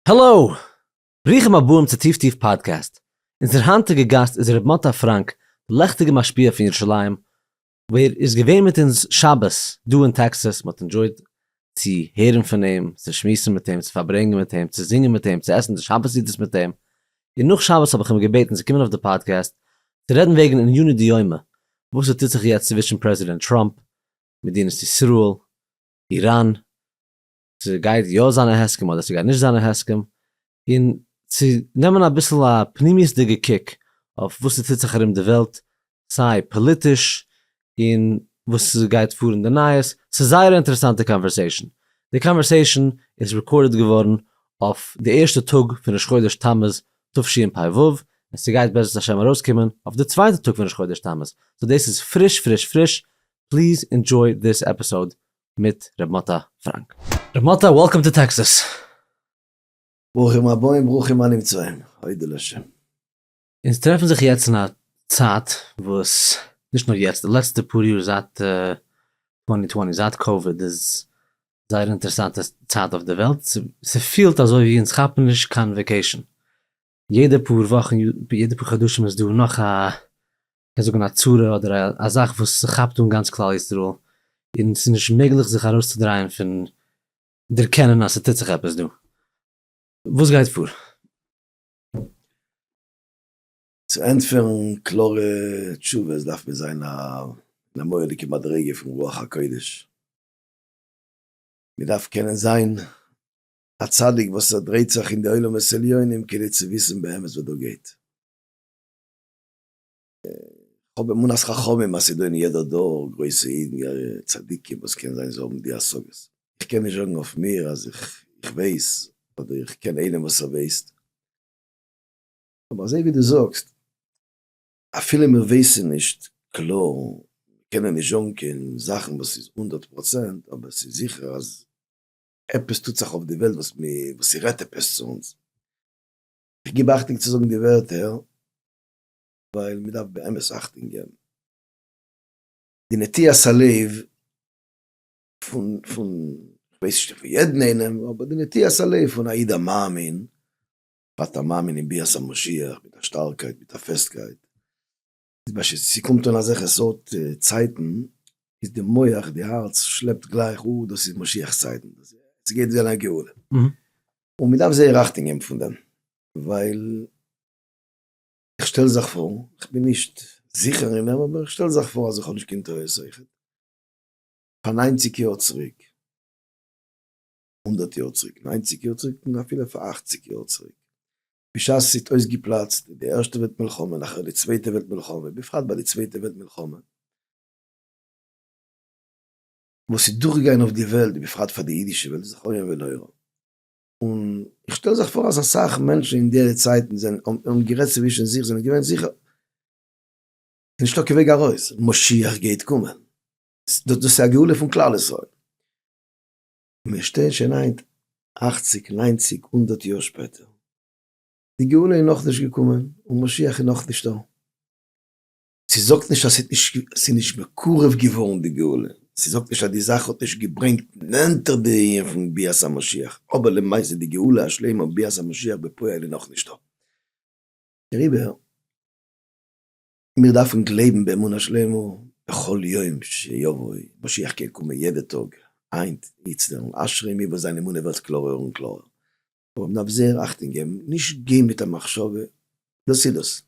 העלאו! ברוכים הבאים צו טיף טיף פאדקעסט. אונזער היינטיגע גאסט איז ר' מוטה פראנק, די לעכטיגע משפיע פון ירושלים, ווער איז געווען מיט אונז שבת דא אין טעקסאס, מ'האט ענדשויד צו הערן פון אים, צו שמועסן מיט אים, צו פארברענגען מיט אים, צו זינגען מיט אים, צו עסן די שבת סעודות מיט אים, און נאך שבת האב איך אים געבעטן צו קומען אויף די פאדקעסט צו רעדן וועגן עניני דיומא, וואס ס'טוט זיך יעצט צווישן פרעזידענט טראמפ, מדינת ישראל, איראן, ס'גייט יא זיין א הסכם אדער ס'גייט נישט זיין א הסכם, און צו נעמען אביסל א פנימיות'דיגע קוק אויף וואס ס'טוט זיך ארום די וועלט, סיי פאליטיש און וואס ס'גייט פאר אין די נייעס, ס'איז זייער א אינטערעסאנטע קאנווערסעישאן. די קאנווערסעישאן איז רעקארדעד געווארן אויף די ערשטע טאג פון ראש חודש תמוז תשפ ו, און ס'גייט בעזרת השם ארויסקומען אויף די צווייטע טאג פון ראש חודש תמוז, סאו דאס איז פריש פריש פריש, פליז אינדזשוי דיס עפיסאוד מיט ר' מוטה פראנק. ר' מוטה וועלקאם טו טעקסאס. ברוכים הבאים ברוכים הנמצאים, אודה לשם. אונז טרעפן זיך יעצט אין א צייט וואס, נישט נאר יעצט, די לעצטע פאר יאר זייט צוואַנצן צוואַנציק, זייט קאוויד איז זייער אינטערעסאנטע צייט אויף די וועלט, ס'פילט אזוי ווי אונז כאפן נישט קיין וועקעישן, יעדע פאר וואכן יעדע פאר חדשים איז דא נאך א קען זאגן א צרה אדער א א זאך וואס ס'כאפט אן גאנץ כלל ישראל און ס'איז נישט מעגליך זיך ארויסצודרייען פון דערקענען אז ס'טוט זיך עפעס דא. וואס גייט פאר? צו ענטפערן קלארע תשובות דארף מען זיין אין א מורא'דיגע מדריגה פון רוח הקודש, מ'דארף קענען זיין א צדיק וואס ער דרייט זיך אין די עולמות עליונים כדי צו וויסן באמת וואס דא גייט. כ'האב אמונת חכמים אז ס'דא אין יעדע דור גרויסע אידן צדיקים וואס קען זיין זיי האבן די השגות. איך קען נישט זאגן אויף מיר אז איך ווייס אדער איך קען איינעם וואס ער ווייסט. אבער אזוי ווי דו זאגסט, אפילו מיר ווייסן נישט קלאר, קענען נישט זאגן קיין זאכן וואס איז הונדערט פראצענט, אבער ס'איז זיכער אז עפעס טוט זיך אויף די וועלט וואס ס'רעדט עפעס צו אונז. איך גיב אכטונג צו זאגן די ווערטער ווייל מ'דארף באמת אכטונג געבן. די נטיית הלב פון פון כ'ווייס נישט פון יעדן איינעם, אבער די נטיית הלב פון א איד א מאמין, בפרט א מאמין אין ביאת המשיח מיט א שטארקייט מיט א פעסטקייט, איז בשעת ס'קומט אן אזעלכע סארט צייטן איז די מח די הארץ שלעפט גלייך אויף דאס איז משיח צייטן, ס'גייט זיין א גאולה. און מ'דארף זייער אכטונג געבן פון דעם, ווייל איך שטעל זיך פאר, איך בין נישט זיכער אין דעם, אבער איך שטעל זיך פאר אז איך האב נישט קיין טעות אויכעט, פאר ניינציג יאר צוריק, הונדערט יאר צוריק, ניינציג יאר צוריק, און אפילו פאר אכציג יאר צוריק, בשעת עס איז אויסגעפלאצט די ערשטע וועלט מלחמה, נאכער די צווייטע וועלט מלחמה, בפרט ביי די צווייטע וועלט מלחמה, וואס איז דורכגעגאנגען אויף די וועלט, בפרט פאר די אידישע וועלט, זכרון ולא ירא. און איך שטעל זיך פאר אז אסאך מענטשן אין די צייטן זענען האבן גערעדט צווישן זיך זענען געווען זיכער ס'איז נישטא קיין וועג ארויס, משיח גייט קומען, דאס איז א גאולה פון כלל ישראל. מיר שטייען שוין היינט אכציג, ניינציג, הונדערט יאר שפעטער, די גאולה איז נאכנישט געקומען און משיח איז נאכנישטא. זי זאגט נישט אז ס'איז נישט מקורב געווארן די גאולה, זי זאגט נישט אז די זאך האט נישט געברענגט נענטער די ענין פון ביאת המשיח, אבער למעשה די גאולה השלימה און ביאת המשיח בפועל איז נאך נישט דא. דעריבער, מיר דארפן גלייבן באמונה שלימה בכל יום שיבוא, משיח קען קומען יעדע טאג, היינט, איצטער, און אשרי מי וואס זיין אמונה ווערט קלארער און קלארער. אבער מ'דארף זייער אכטונג געבן נישט גיין מיט א מחשבה, דאס איז דאס.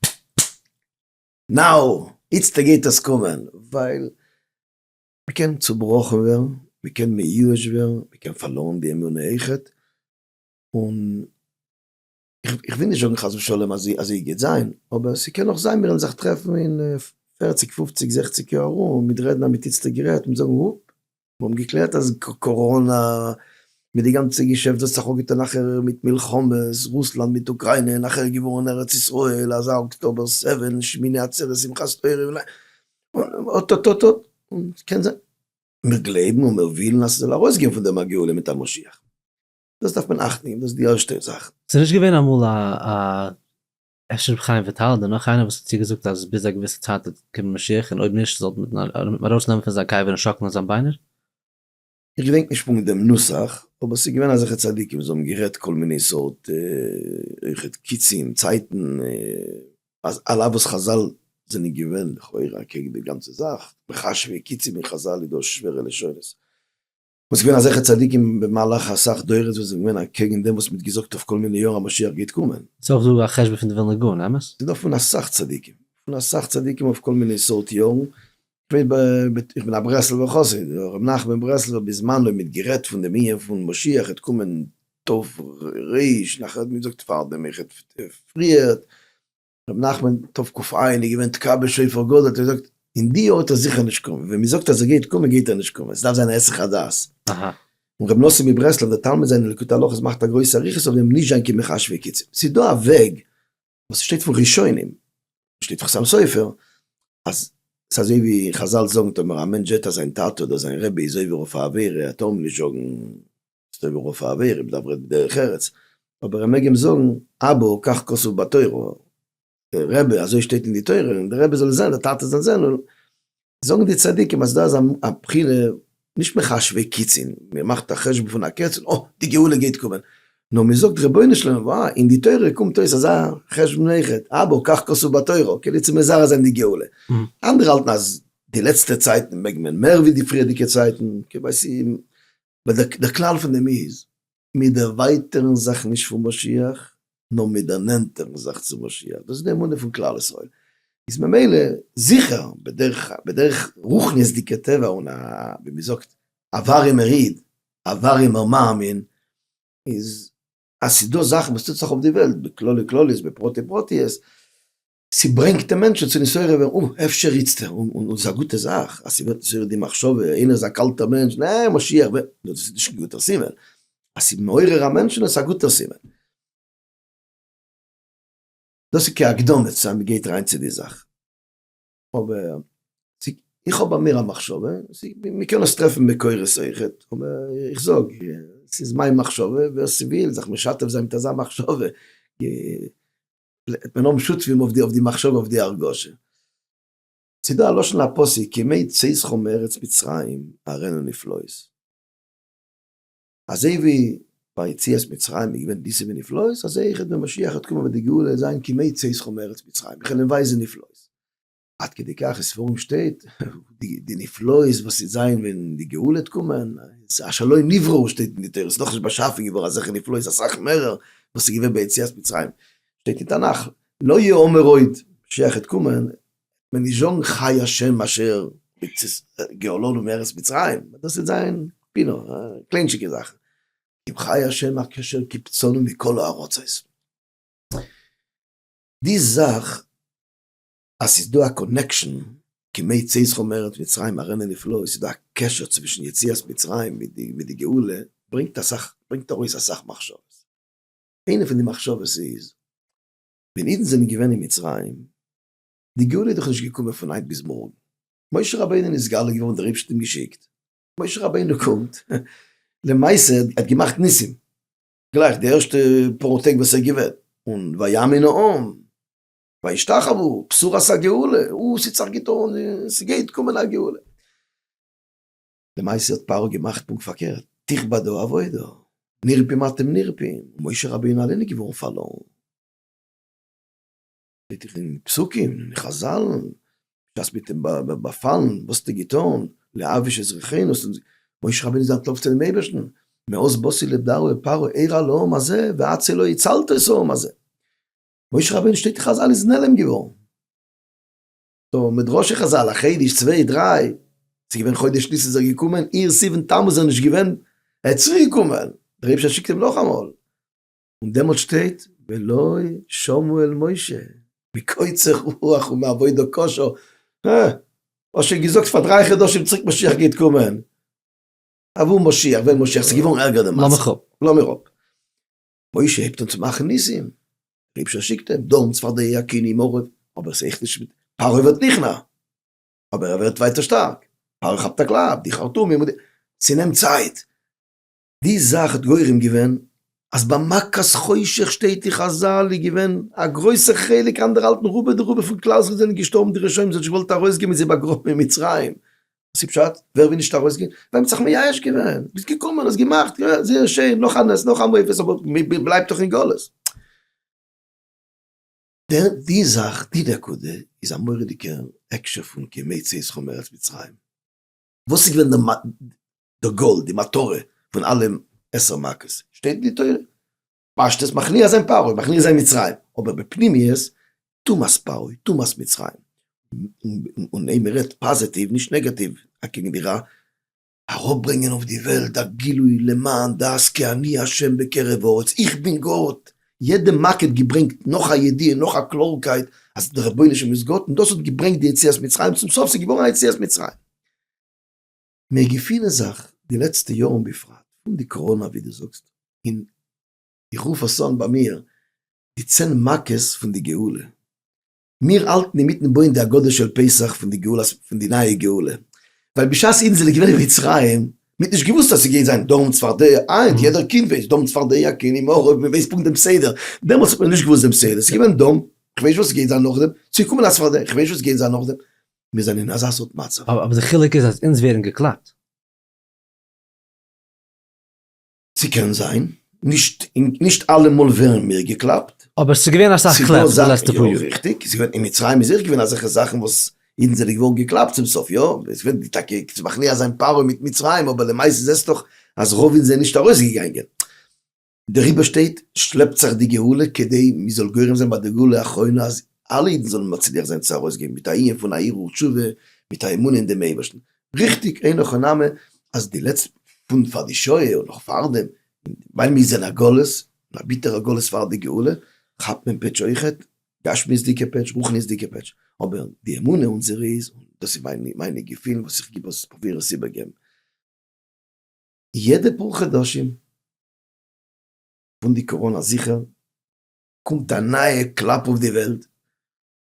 נאו! איצטער גייט עס קומען, ווייל מ'קען צובראכן ווערן, מ'קען מיואש ווערן, מ'קען פארלוירן די אמונה אויכעט, און איך וויל נישט זאגן חס ושלום אז אזוי גייט זיין, אבער ס'קען נאך זיין מיר וועלן זיך טרעפן אין פערציג פופציג זעכציג יאר ארום מיט רעדן אז מ'האט איצטער גערעדט, מיט זאגן אופ! מיר האבן געקלערט אז קאראנא, מיט די גאנצע געשעפט וועט זיך אפגעטון נאכער מיט מלחמות, רוסלאנד מיט אוקריינע, נאכער געווארן ארץ ישראל, אזא אקטאבער סעווען, שמיני עצרת, שמחת תורה, און אט אט אט אט, און קען זיין. מיר גלייבן און מיר ווילן אז ס'זאל ארויסגיין פון דעם א גאולה מיט א משיח. דאס דארף מען אכטן, דאס איז די ערשטע זאך. ס'איז נישט געווען אמאל א אפשר רבי חיים וויטאל אדער נאך איינער וואס האט צוגעזאגט אז ביז א געוויסע צייט וועט קומען משיח און אויב נישט זאלט מען אים ארויסנעמען פון זיין קבר און שאקלען זיין ביינער. איך געדענק נישט פונקט דעם נוסח, אבער ס'איז געווען אזעלכע צדיקים וואס האבן גערעדט כל מיני סארט אויכעט קיצים, צייטן, אז על אף וואס חזל זענען געווען לכאורה אקעגן די גאנצע זאך, מכשפי קיצים אין חזל איז דא שווערע לשונות. און ס'געווען אזעלכע צדיקים במהלך אסאך דורות וואס זענען געווען אקעגן דעם וואס מ'האט געזאגט אויף כל מיני יאר א משיח גייט קומען. ס'איז אויך דא א חשבון פון די ווילנא גאון, אמת? ס'איז דא פון אסאך צדיקים, פון אסאך צדיקים אויף כל מיני סארט יארן, איך בין א ברסלב'ער חסיד, הרב נחמן ברסלב'ער בזמנו האט מיט גערעדט פון דעם ענין פון משיח העט קומען תרפ ר, נאכער האט מען געזאגט פארדעם איך העט פריער, רבי נחמן תרפ ק איין איז געווען תקע ב שופר גדול האט ער געזאגט אין די יאר וועט ער זיכער נישט קומען ווען מען זאגט אז ער גייט קומען גייט ער נישט קומען עס דארף זיין א היסח הדעת און רבי נאסען מברסלב דער תלמיד זיין אין ליקוטי הלכות מאכט א גרויסע אריכות אויף דעם נישט זיין כמחש וקיצין עס איז דא א וועג וואס שטייט פון ראשונים שטייט פון חתם סופר אז עס אזוי ווי חזל זאגן טאמער א מענטש זעט אז זיין טאטע אדער זיין רבי איז עובר אויף א עבירה טאר מען נישט זאגן. ס'איז טוב אויך פאר א ווער אויב דארף רעדן דרך ארץ, אבער ער מעג אים זאגן אבא כך כתוב בתורה, רבי אזוי שטייט אין די תורה, און די רבי זאל זען, די טאטע זאל זען, זאגן די צדיקים אז דא איז א בחירה נישט מחשובי קיצין, מען מאכט א חשבון פון א קץ און אה, די גאולה גייט קומען, נאר מען זאגט רבונו של עולם וואו, אין די תורה קומט אויס אזא חשבון אויכעט, אבא כך כתוב בתורה, כאילו צו מזרז זיין די גאולה, אנדערע האלטן אז די לעצטע צייטן מעג מען מער ווי די פריערדיגע צייטן, כ'ווייס ווייל דער כלל פון דעם איז, מיר דערווייטערן זיך נישט פון משיח, נאר מיר דערנענטערן זיך צו משיח, דאס איז די אמונה פון כלל ישראל, איז ממילא זיכער בדרך בדרך רוחניות'דיגע טבע און א ווי מען זאגט א ווארימער איד, א ווארימער מאמין, איז אז ס'איז דא זאכן וואס טוט זיך אויף די וועלט בכללי כלליות בפרטי פרטיות, ס'ברענגט די מענטשן צו נתעורר ווערן, אוי, אפשר איצטער, און און ס'איז א גוטע זאך אז ס'ווערט נתעורר די מחשבה, איינער איז א קאלטער מענטש, נע, משיח וועט, דאס איז נישט קיין גוטער סימן, אז ס'איז מעורר א מענטשן איז עס א גוטער סימן. דאס איז כהקדמה צו אז מ'גייט אריין צו די זאך. אבער, איך האב ביי מיר א מחשבה, מ'קען עס טרעפן מקורות אויכעט, אבער איך זאג, ס'איז מיין מחשבה, ווער ס'וויל זיך משתף זיין מיט אזא מחשבה, מען האבן שותפים אויף די אויף די מחשבה אויף די הרגשה. ס'איז דא א לשון הפסוק כימי צאתכם מארץ מצרים אראנו נפלאות. אזוי ווי ביי יציאת מצרים איז געווען ניסים ונפלאות, אזוי אויכעט ווען משיח וועט קומען וועט די גאולה זיין כימי צאתכם מארץ מצרים, איך וועל אים ווייזען נפלאות. עד כדי כך אין ספרים שטייט די נפלאות וואס וועט זיין ווען די גאולה וועט קומען, אשר לא נבראו שטייט אין די תורה, ס'איז נאכנישט באשאפן געווארן אזעלכע נפלאות אסאך מערער וואס איז געווען ביציאת מצרים, שטייט אין תנך לא יאמר עוד, משיח וועט קומען וועט מען נישט זאגן חי השם אשר גאלנו מארץ מצרים, דאס וועט זיין פינעף קליינטשיגע זאכן, אם חי השם אשר קיבצנו מכל הארצות, די זאך אז ס'איז דא א קאנעקשאן כמי צי זכור מארץ מצרים ארענע נפלאות, ס'איז דא א קשר צווישן יציאת מצרים מיט די גאולה, ברענגט אסאך, ברענגט ארויס אסאך מחשבות. איינע פון די מחשבות איז, ווען אידן זענען געווען אין מצרים, די גאולה איז דאך נישט געקומען פון היינט ביז מארגן. משה רבינו איז נתגלה געווארן, דער אייבערשטער האט אים געשיקט, משה רבינו קומט, למעשה ער האט געמאכט ניסים, גלייך די ערשטע פאר טעג וואס ער איז געווען, און ויאמין העם, וישתחוו, בשורת הגאולה, אוי ס'צריך גוט אן, ס'גייט קומען א גאולה. למעשה האט פרעה געמאכט פונקט פארקערט, תכבדו עבודה, נרפים אתם נרפים, משה רבינו אליין איז געווארן פארלוירן. שטייט דאך אין פסוקים, אין חזל, בשעת מיט אים באפאלן, וואס האסטו געטון, להעביש את זרעינו, משה רבינו איז אנטלויפט צו דעם אייבערשטן, מאז באתי לבדרו אל פרעה ער הלאום הזה ועד צלו הצלת את העם הזה. משה רבינו שטייט אין חזל איז נעלם געווארן. סאו מדרשי חזל א חודש צוויי דריי, ס'איז געווען חודש ניסן איז ער געקומען, אייר סיוון תמוז איז ער נישט געווען, ער איז צוריק געקומען, דער אייבערשטער שיקט אים נאכאמאל. און דעמאלט שטייט ולא שמעו אל משה מקוצר רוח ומעבודה קשה, הא, האסט שוין געזאגט פאר דריי חדשים צוריק משיח גייט קומען, אוואו משיח ווען משיח, ס'איז געווארן ערגער די מצב. לאמיר אפ. משה הייבט אן צו מאכן ניסים, רבשע שיקט אים, דאן צפרדע הקיני מרוב, אבער ס'העכט נישט מיט, פרעה ווערט נכנע, אבער ער ווערט ווייטער שטארק, פרעה כאפט א קלאפ, די חרטומים און די, ס'נעמט צייט, די זאך האט גורם געווען אז ביי מכת חושך שטייט אין חזל איז געווען א גרויסע חלק אנדערהאלטן רובא דרובא פון כלל ישראל זענען געשטארבן די רשעים זיי האט נישט געוואלט ארויסגעבן זיי באגראבן אין מצרים וואס איז פשט? ווער וויל נישט ארויסגיין? ווען מ'האט זיך מייאש געווען, ביסט געקומען האסט געמאכט, יא זייער שיין, נאך א נס, נאך א מופת, אבער מ'בלייבט דאך אין גלות. דער, די זאך, די נקודה, איז א מורא'דיגע הקשר פון כימי צאתך מארץ מצרים. וואס איז געווען די גאול, די מטרה, פון אלע עשר מכות? שטייט אין די תורה. פשט איז מכניע זיין פרעה, מכניע זיין מצרים, אבער בפנימיות טומאת פרעה, טומאת מצרים, און און מ'רעדט פאזעטיוו נישט נעגאטיוו אקעגן די רע, אראפברענגען אויף די וועלט א גילוי למען דעת כי אני ה' בקרב הארץ, איך בין גאט, יעדע מכה האט געברענגט נאך א ידיעה, נאך א קלארקייט אז דער רבונו של עולם איז גאט, און דאס האט געברענגט די יציאת מצרים, צום סוף ס'איז געווארן א יציאת מצרים. מיר געפינען זיך די לעצטע יארן בפרט פון די קאראנא ווי דו זאגסט און איך רוף עס אן ביי מיר די צען מכות פון די גאולה, מיר האלטן אינמיטן בויען די הגדה של פסח פון די גאולה פון די נייע גאולה ווייל בשעת אידן זענען געווען אין מצרים מ'האט נישט געוואוסט אז ס'גייט זיין דורם צפרדע היינט יעדער קינד ווייסט דורם צפרדע קען אים אויך אויב מ'ווייסט פונקט דעם סדר דעמאלטס האט מען נישט געוואוסט דעם סדר ס'געווען דורם כ'ווייס נישט וואס ס'גייט זיין נאכדעם ס'איז געקומען א צפרדע כ'ווייס נישט וואס ס'גייט זיין נאכדעם מיר זענען אין אזא סארט מצב. אבער די חילוק איז אז אונז ווערן געקלאפט. ס'קען זיין, נישט נישט אלעמאל ווערן מיר געקלאפט. אבער ס'איז געווען אסאך קלעפ די לעצטע פאר יאר. יא ריכטיג, ס'איז געווען אין מצרים איז אויך געווען אזעלכע זאכן וואס אידן זענען געווארן געקלאפט צום סוף יא, עס וועט די טאקע צו מכניע זיין פרעה מיט מצרים אבער למעשה זעסטוך אז רוב אידן זענען נישט ארויסגעגאנגען. דעריבער שטייט, שלעפט זיך די גאולה כדי מ'זאל גורם זיין ביי די גאולה האחרונה אז אלע אידן זאלן מצליח זיין צו ארויסגיין מיט א עיון פון א הרהור תשובה מיט א אמונה אין דעם אייבערשטן. ריכטיג אינו כל נמי אז די לעצט פון פאר די שואה און נאך פארדעם ווייל מ'איז אין א גלות, אין א ביטערע גלות פאר די גאולה, כאפט מען פעטש אויכעט, גשמיות'דיגע פעטש, רוחניות'דיגע פעטש, אבער די אמונה אונזערע איז, און דאס איז מיינע געפילן וואס איך גיב עס, פרוביר עס איבערגעבן. יעדע פאר חדשים פון די קאראנא זיכער קומט א נייע קלאפ אויף די וועלט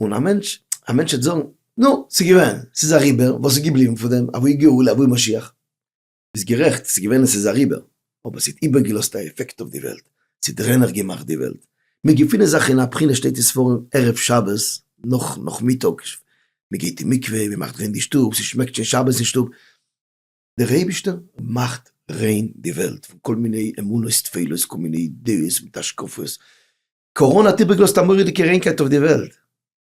און א מענטש א מענטש וועט זאגן נו ס'איז געווען ס'איז אריבער וואס איז געבליבן פון דעם אוואו גאולה אוואו משיח. ביסט גערעכט ס'איז געווען און ס'איז אריבער אבער ס'האט איבערגעלאזט א עפעקט אויף די וועלט ס'האט רענעך געמאכט די וועלט מיר געפינען זיך אין א בחינה שטייט אין ספרים ערב שבת נאך נאכמיטאג מ'גייט אין מקווה מ'מאכט ריין די שטוב ס'שמעקט שוין שבת אין שטוב. דער אייבישטער מאכט ריין די וועלט פון כל מיני אמונות טפלות כל מיני דעות מיט השקפות, קאראנע האט איבערגעלאזט א מורא'דיגע ריינקייט אויף די וועלט,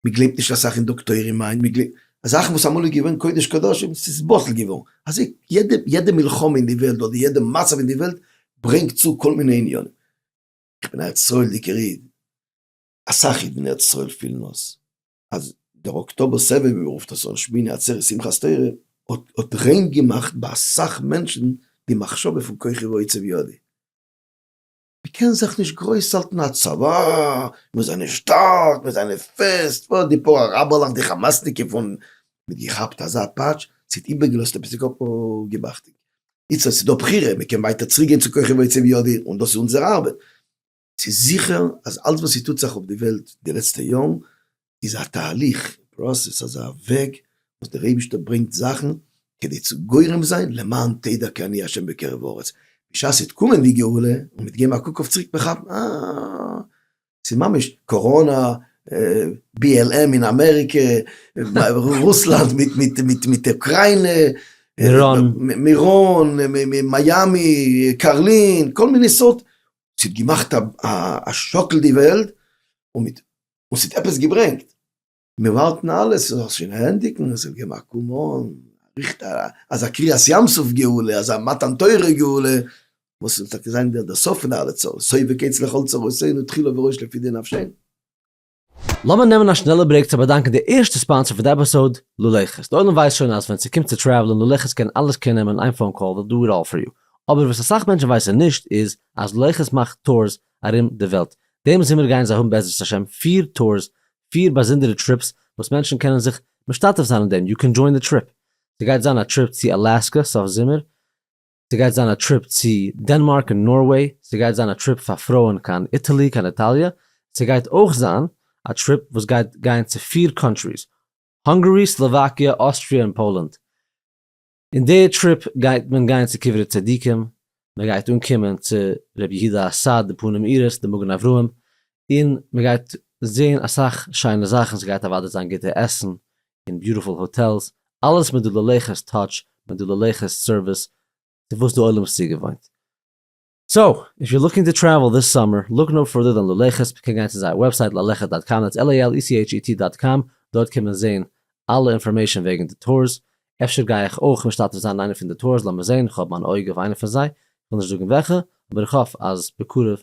מען גלייבט נישט אסאך אין דאקטוירים היינט, מען גלייבט זאכן וואס אמאל איז געווען קודש קדשים ס'איז בטל געווארן, אזוי יעדע יעדע מלחמה אין די וועלט אדער יעדע מצב אין די וועלט ברענגט צו כל מיני עניינים, איך בין א ארץ ישראל'דיגער איד, אסאך אידן אין ארץ ישראל פילן אויס אז דער אקטאבער סבב ווי מען רופט עס אויך שמיני עצרת שמחת תורה האט ריין געמאכט ביי אסאך מענטשן די מחשבה פון כוחי ועוצב ידי. מען קען זיך נישט גרויס האלטן א צבא, מיר זענען שטארק, מיר זענען פעסט, פאר די פאר אראבערלעך די חמאס'ניקע פון. מען האט געכאפט אזא פאטש, ס'האט איבערגעלאזט עפעס די קאפ געבאכטונג. איצטערט ס'איז דא בחירה, מען קען ווייטער צוריק גיין צו כוחי ועוצב ידי און דאס איז אונזער ארבעט. ס'איז זיכער אז אלץ וואס ס'טוט זיך אויף די וועלט די לעצטע יארן איז א תהליך, פראסעס, אזא וועג וואס דער אייבישטער ברענגט זאכן כדי צו גורם זיין למען תדע כי אני ה' בקרב הארץ, בשעת ס'וועט קומען די גאולה און מ'וועט געבן א קוק אויף צוריק מ'כאפט אה, ס'איז ממש קאראנא, BLM אין אמעריקע, רוסלאנד מיט אוקריינע, מירון, מיאמי, קארלין, כל מיני סארט ס'האט געמאכט א שאקל די וועלט, און ס'האט עפעס געברענגט. מיר ווארטן אלע ס'זאל זיך שוין ענדיגן, עס זאל געבן א קאם אן, ריכט א אזא קריעת ים סוף גאולה, אזא מתן תורה גאולה, וואס זאל טאקע זיין דער סוף פון אלע צרות, סוף וקץ לכל צרותינו תחילה וראש לפי דין נפשנו. לאמיר נעמען א שנעלע ברעיק צו באדאנקען די ערשטע ספאנסער פון די עפיסאוד, לולעכעס. די עולם ווייסט שוין אז ווען ס'קומט צו טרעוולען, לולעכעס קען אלעס קעיר נעמען אין איין פאון קאל, וויל דא איט אלל פאר יו. אבער וואס אסאך מענטשן ווייסן נישט איז אז לולעכעס מאכט טורס ארום די וועלט. דעם זומער גייען זיי האבן בעזרת השם פֿיר טורס, פֿיר באזונדערע טריפס וואס מענטשן קענען זיך משתתף זיין אין דעם, יו קען דזשוין די טריפ. ס'גייט זיין א טריפ צו אלאסקע סוף זומער, ס'גייט זיין א טריפ צו דענמארק און נארוועי, ס'גייט זיין א טריפ פאר פרויען קיין איטעלי קיין איטאליע, ס'גייט אויך זיין א טריפ וואס גייט גיין צו פיר קאנטריס, האנגערי, סלאוואקיע, אוסטריע און פאלאנד. אין די טריפ גייט מען גיין צו קברי צדיקים, מען גייט אנקומען צו ר' יהודה אסאד, די פנים עירס, די מגן אברהם, און מען גייט זען אסאך שיינע זאכן, עס גייט אוודאי זיין גוטע עסן און ביוטיפול האטעלס, אלעס מיט די ללכת טאטש, מיט די ללכת סערוויס צו וואס די עולם איז צוגעוואוינט. סאו, איף יו לוקינג טו טרעוועל דיס סאמער, לוק נאו פערדער דען ללכת, מען קען גיין צו זייער וועבסייט ללכת דאט קאם, דעטס LALECHET דאט קאם, דארט קען מען זען אלע אינפארמעישאן וועגן די טורס, אפשר גיי איך אויך משתתף זיין אין איינע פון די טורס, לאמיר זען, איך האב מיין אויג אויף איינע פון זיי, איך וויל נישט זאגן וועלכע, אבער איך האף אז בקרוב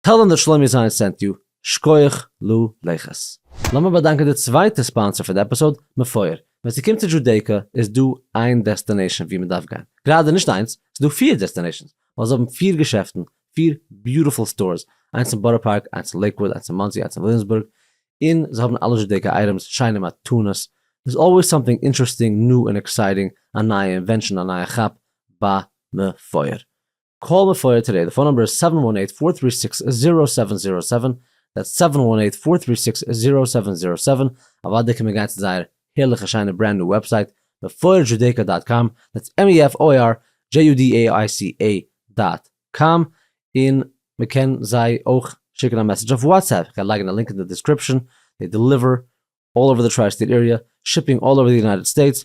טעל דעם דער שלומי זיין סענט יו, שקויעך לו לכת. לאמיר באדאנקען די צווייטע ספאנסער פון די עפיסאוד, מפואר. ווען ס'קומט צו דזשודעיקא איז דא איין דעסטענעישאן ווי מ'דארף גיין. גראדע נישט איינס, ס'דא פיר דעסטענעישאנס, ווייל זיי האבן פיר געשעפטן, פיר ביוטיפול סטארס, איינס אין בארא פארק, איינס אין לעיקוואוד, איינס אין מאנסי, איינס אין וויליאמסבורג, און זיי האבן אלע דזשודעיקא אייטעמס, שיינע מתנות, דער'ס אלוועיס סאמטינג אינטערעסטינג, ניו און עקסייטינג, א נייע אינווענשאן, א נייע כאפ, בה מפואר. קאל די פייער טודעי, די פאון נומבער איז סעווען וואן עיט פאר טרי סיקס זירא סעווען זירא סעווען, דעטס סעווען וואן עיט פאר טרי סיקס זירא סעווען זירא סעווען, אוואדע קען מען גיין צו זייער הערליכע שיינע ברענד ניו וועבסייט mefoirjudaica דאט קאם, דעטס mefoirjudaica דאט קאם, און מען קען זיי אויך שיקן א מעסעדזש אויף וואטסעפפ, איך גיי לייגן א לינק אין די דיסקריפשאן, זיי דעליווער אלל אווער די טריי סטעיט עריע, שיפינג אלל אווער די יונייטעד סטעיטס,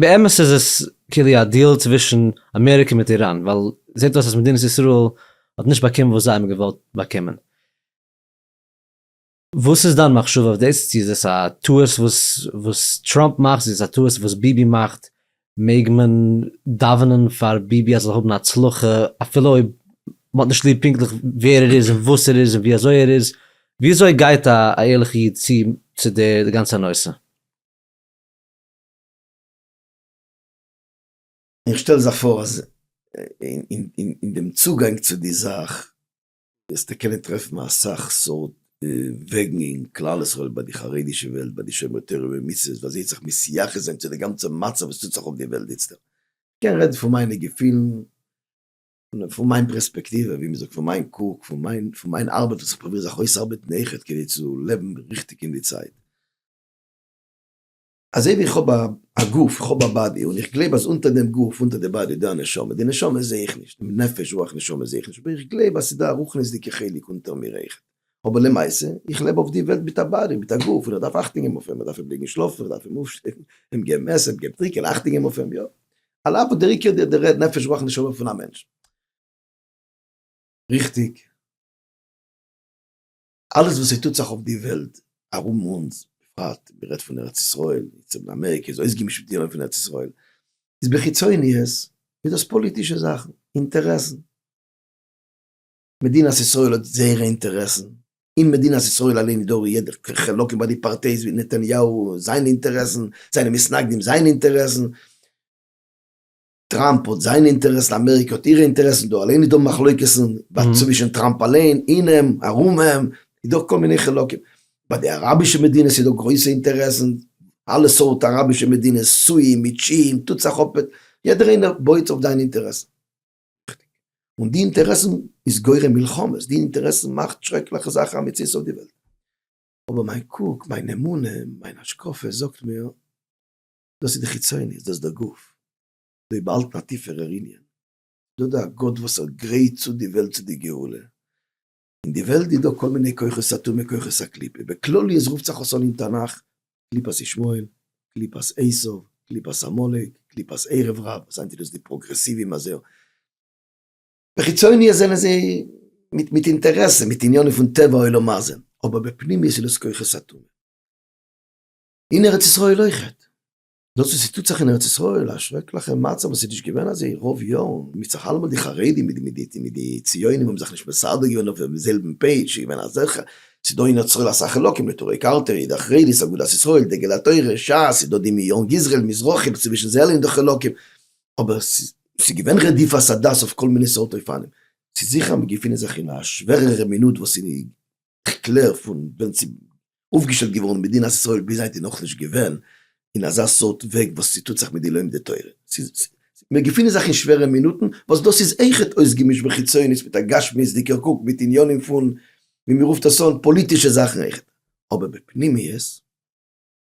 באמת איז עס כאילו א דיעל צווישן אמעריקע מיט איראן, ווייל זעט אויס אז מדינת ישראל האט נישט באקומען וואס זיי האבן געוואלט באקומען. וואס איז דיין מחשבה אויף דאס? צו איז עס א טעות וואס וואס טראמפ מאכט? צו איז עס א טעות וואס ביבי מאכט? מעג מען דאווענען פאר ביבי אז ער זאל האבן הצלחה אפילו אויב מ'האט נישט ליב פונקטליך ווער ער איז און וואס ער איז און ווי אזוי ער איז? ווי אזוי גייט א ערליכע איד צו צו די גאנצע נושא? איך שטעל זיך פאר אז אין דעם צוגאנג צו די זאך וועסטו קענען טרעפן אסאך סארט וועגן אין כלל ישראל ביי די חרדישע וועלט ביי די שומרי תורה ומצוות ווי אזוי זיך מסייחס זיין צו די גאנצע מצב וואס טוט זיך אויף די וועלט איצטערט. כ'קען רעדן פון מיינע געפילן, פון מיין פרעספעקטיווע, ווי מ'זאגט פון מיין קוק, פון מיין ארבעט וואס איך פרוביר זיך אויסארבעטן אויכעט כדי צו לעבן ריכטיג אין די צייט. אזוי ווי איך האב א גוף, איך האב א באדי, און איך גלייב אז אונטער דעם גוף, אונטער די באדי, איז דא א נשמה, די נשמה זעה איך נישט, די נפש, רוח, נשמה זעה איך נישט, אבער איך גלייב אז ס'איז דא א רוחניות'דיגע חלק אונטער מיר אויכעט. אבער למעשה, איך לעב אויף די וועלט מיט א באדי, מיט א גוף, און איך דארף אכטונג געבן אויף אים, איך דארף אים לעגן שלאפן, איך דארף אים אויפשטעלן, אים געבן עסן, אים געבן טרינקען, אכטונג געבן אויף אים, יא. על אף וואס דער עיקר איז די נפש, רוח, נשמה פון א מענטש. ריכטיג. אלעס וואס ס'טוט זיך אויף די וועלט ארום אונז, בפרט מ'רעדט פון ארץ ישראל, צפון אמעריקע איז אויסגעמישט מיט די עולם פון ארץ ישראל, איז בחיצוניות איז דאס פאליטישע זאכן, אינטערעסן. מדינת ישראל האט זייערע אינטערעסן, אין מדינת ישראל אליין איז דא יעדע חלוקה ביי די פארטייס ווי נתניהו זיינע אינטערעסן, זיינע מתנגדים זייערע אינטערעסן, טראמפ האט זיינע אינטערעסן, אמעריקע האט אירע אינטערעסן, דא אליין איז דא מחלוקת'ן, בה צווישן טראמפ אליין, אין אים, ארום אים, איז דא כל מיני חילוקים. ביי די אראבישע מדינות איז דא גרויסע אינטערעסן, אלע סארט אראבישע מדינות, סועים, מיט שיעים, טוט זיך אפ, יעדער איינער בויעט אויף זיין אינטערעסן. און די אינטערעסן איז גורם מלחמות, די אינטערעסן מאכט שרעקליכע זאכן א מציאות אויף די וועלט. אבער מיין קוק, מיין אמונה, מיין השקפה זאגט מיר, דאס איז די חיצוניות, דאס איז דער גוף, זיי באהאלטן א טיפערער ענין, ס'דא דא א גאט וואס ער גרייט צו די וועלט צו די גאולה, אין די וועלט איז דא כל מיני כוחות סתומים כוחות הקליפה, בכלליות רופט זיך עס אן אין תנך, קליפת ישמעאל, קליפת עשיו, קליפת עמלק, קליפת ערב רב, וואס היינט איז דאס די פראגרעסיווים אז ער, בחיצוניות זענען זיי מיט אינטערעסע, מיט עניינים פון טבע העולם הזה, אבער בפנימיות איז דאס כוחות סתומים. אין ארץ ישראל אויכעט, דאס וואס ס'טוט זיך אין ארץ ישראל, א שרעקליכע מצב וואס איז נישט געווען אזוי רוב יארן, מ'צריך אלעמאל די חרדים מיט די ציונים האבן זיך נישט מסדר געווען אויפן זעלבן פעידזש, ס'איז געווען אזעלכע, ס'איז דא אין ארץ ישראל אסאך חלקים, נטורי קרתא, אידא חרדית, אגודת ישראל, דגל התורה, שס, ס'איז דא די מיאון גזר'ל, מזרחים, צווישן זיי אלע איז דא חלקים, אבער ס'איז געווען רדיפת הדת אויף כל מיני סארט אופנים, ס'איז זיכער אז מיר געפינען זיך אין א שווערערע מינוט וואס אין כ'קלער פון ווען ס'איז אויפגעשטעלט געווארן מדינת ישראל ביז היינט איז נאכנישט געווען אין אזא סארט וועג וואס ס'טוט זיך מיט די לומדי תורה. ס'איז, מיר געפינען זיך אין שווערע מינוטן וואס דאס איז אויכעט אויסגעמישט בחיצונית מיט א גשמיות'דיגער קוק מיט עניינים פון, ווי מ'רופט עס אן, פאליטישע זאכן אויכעט. אבער בפנימיות איז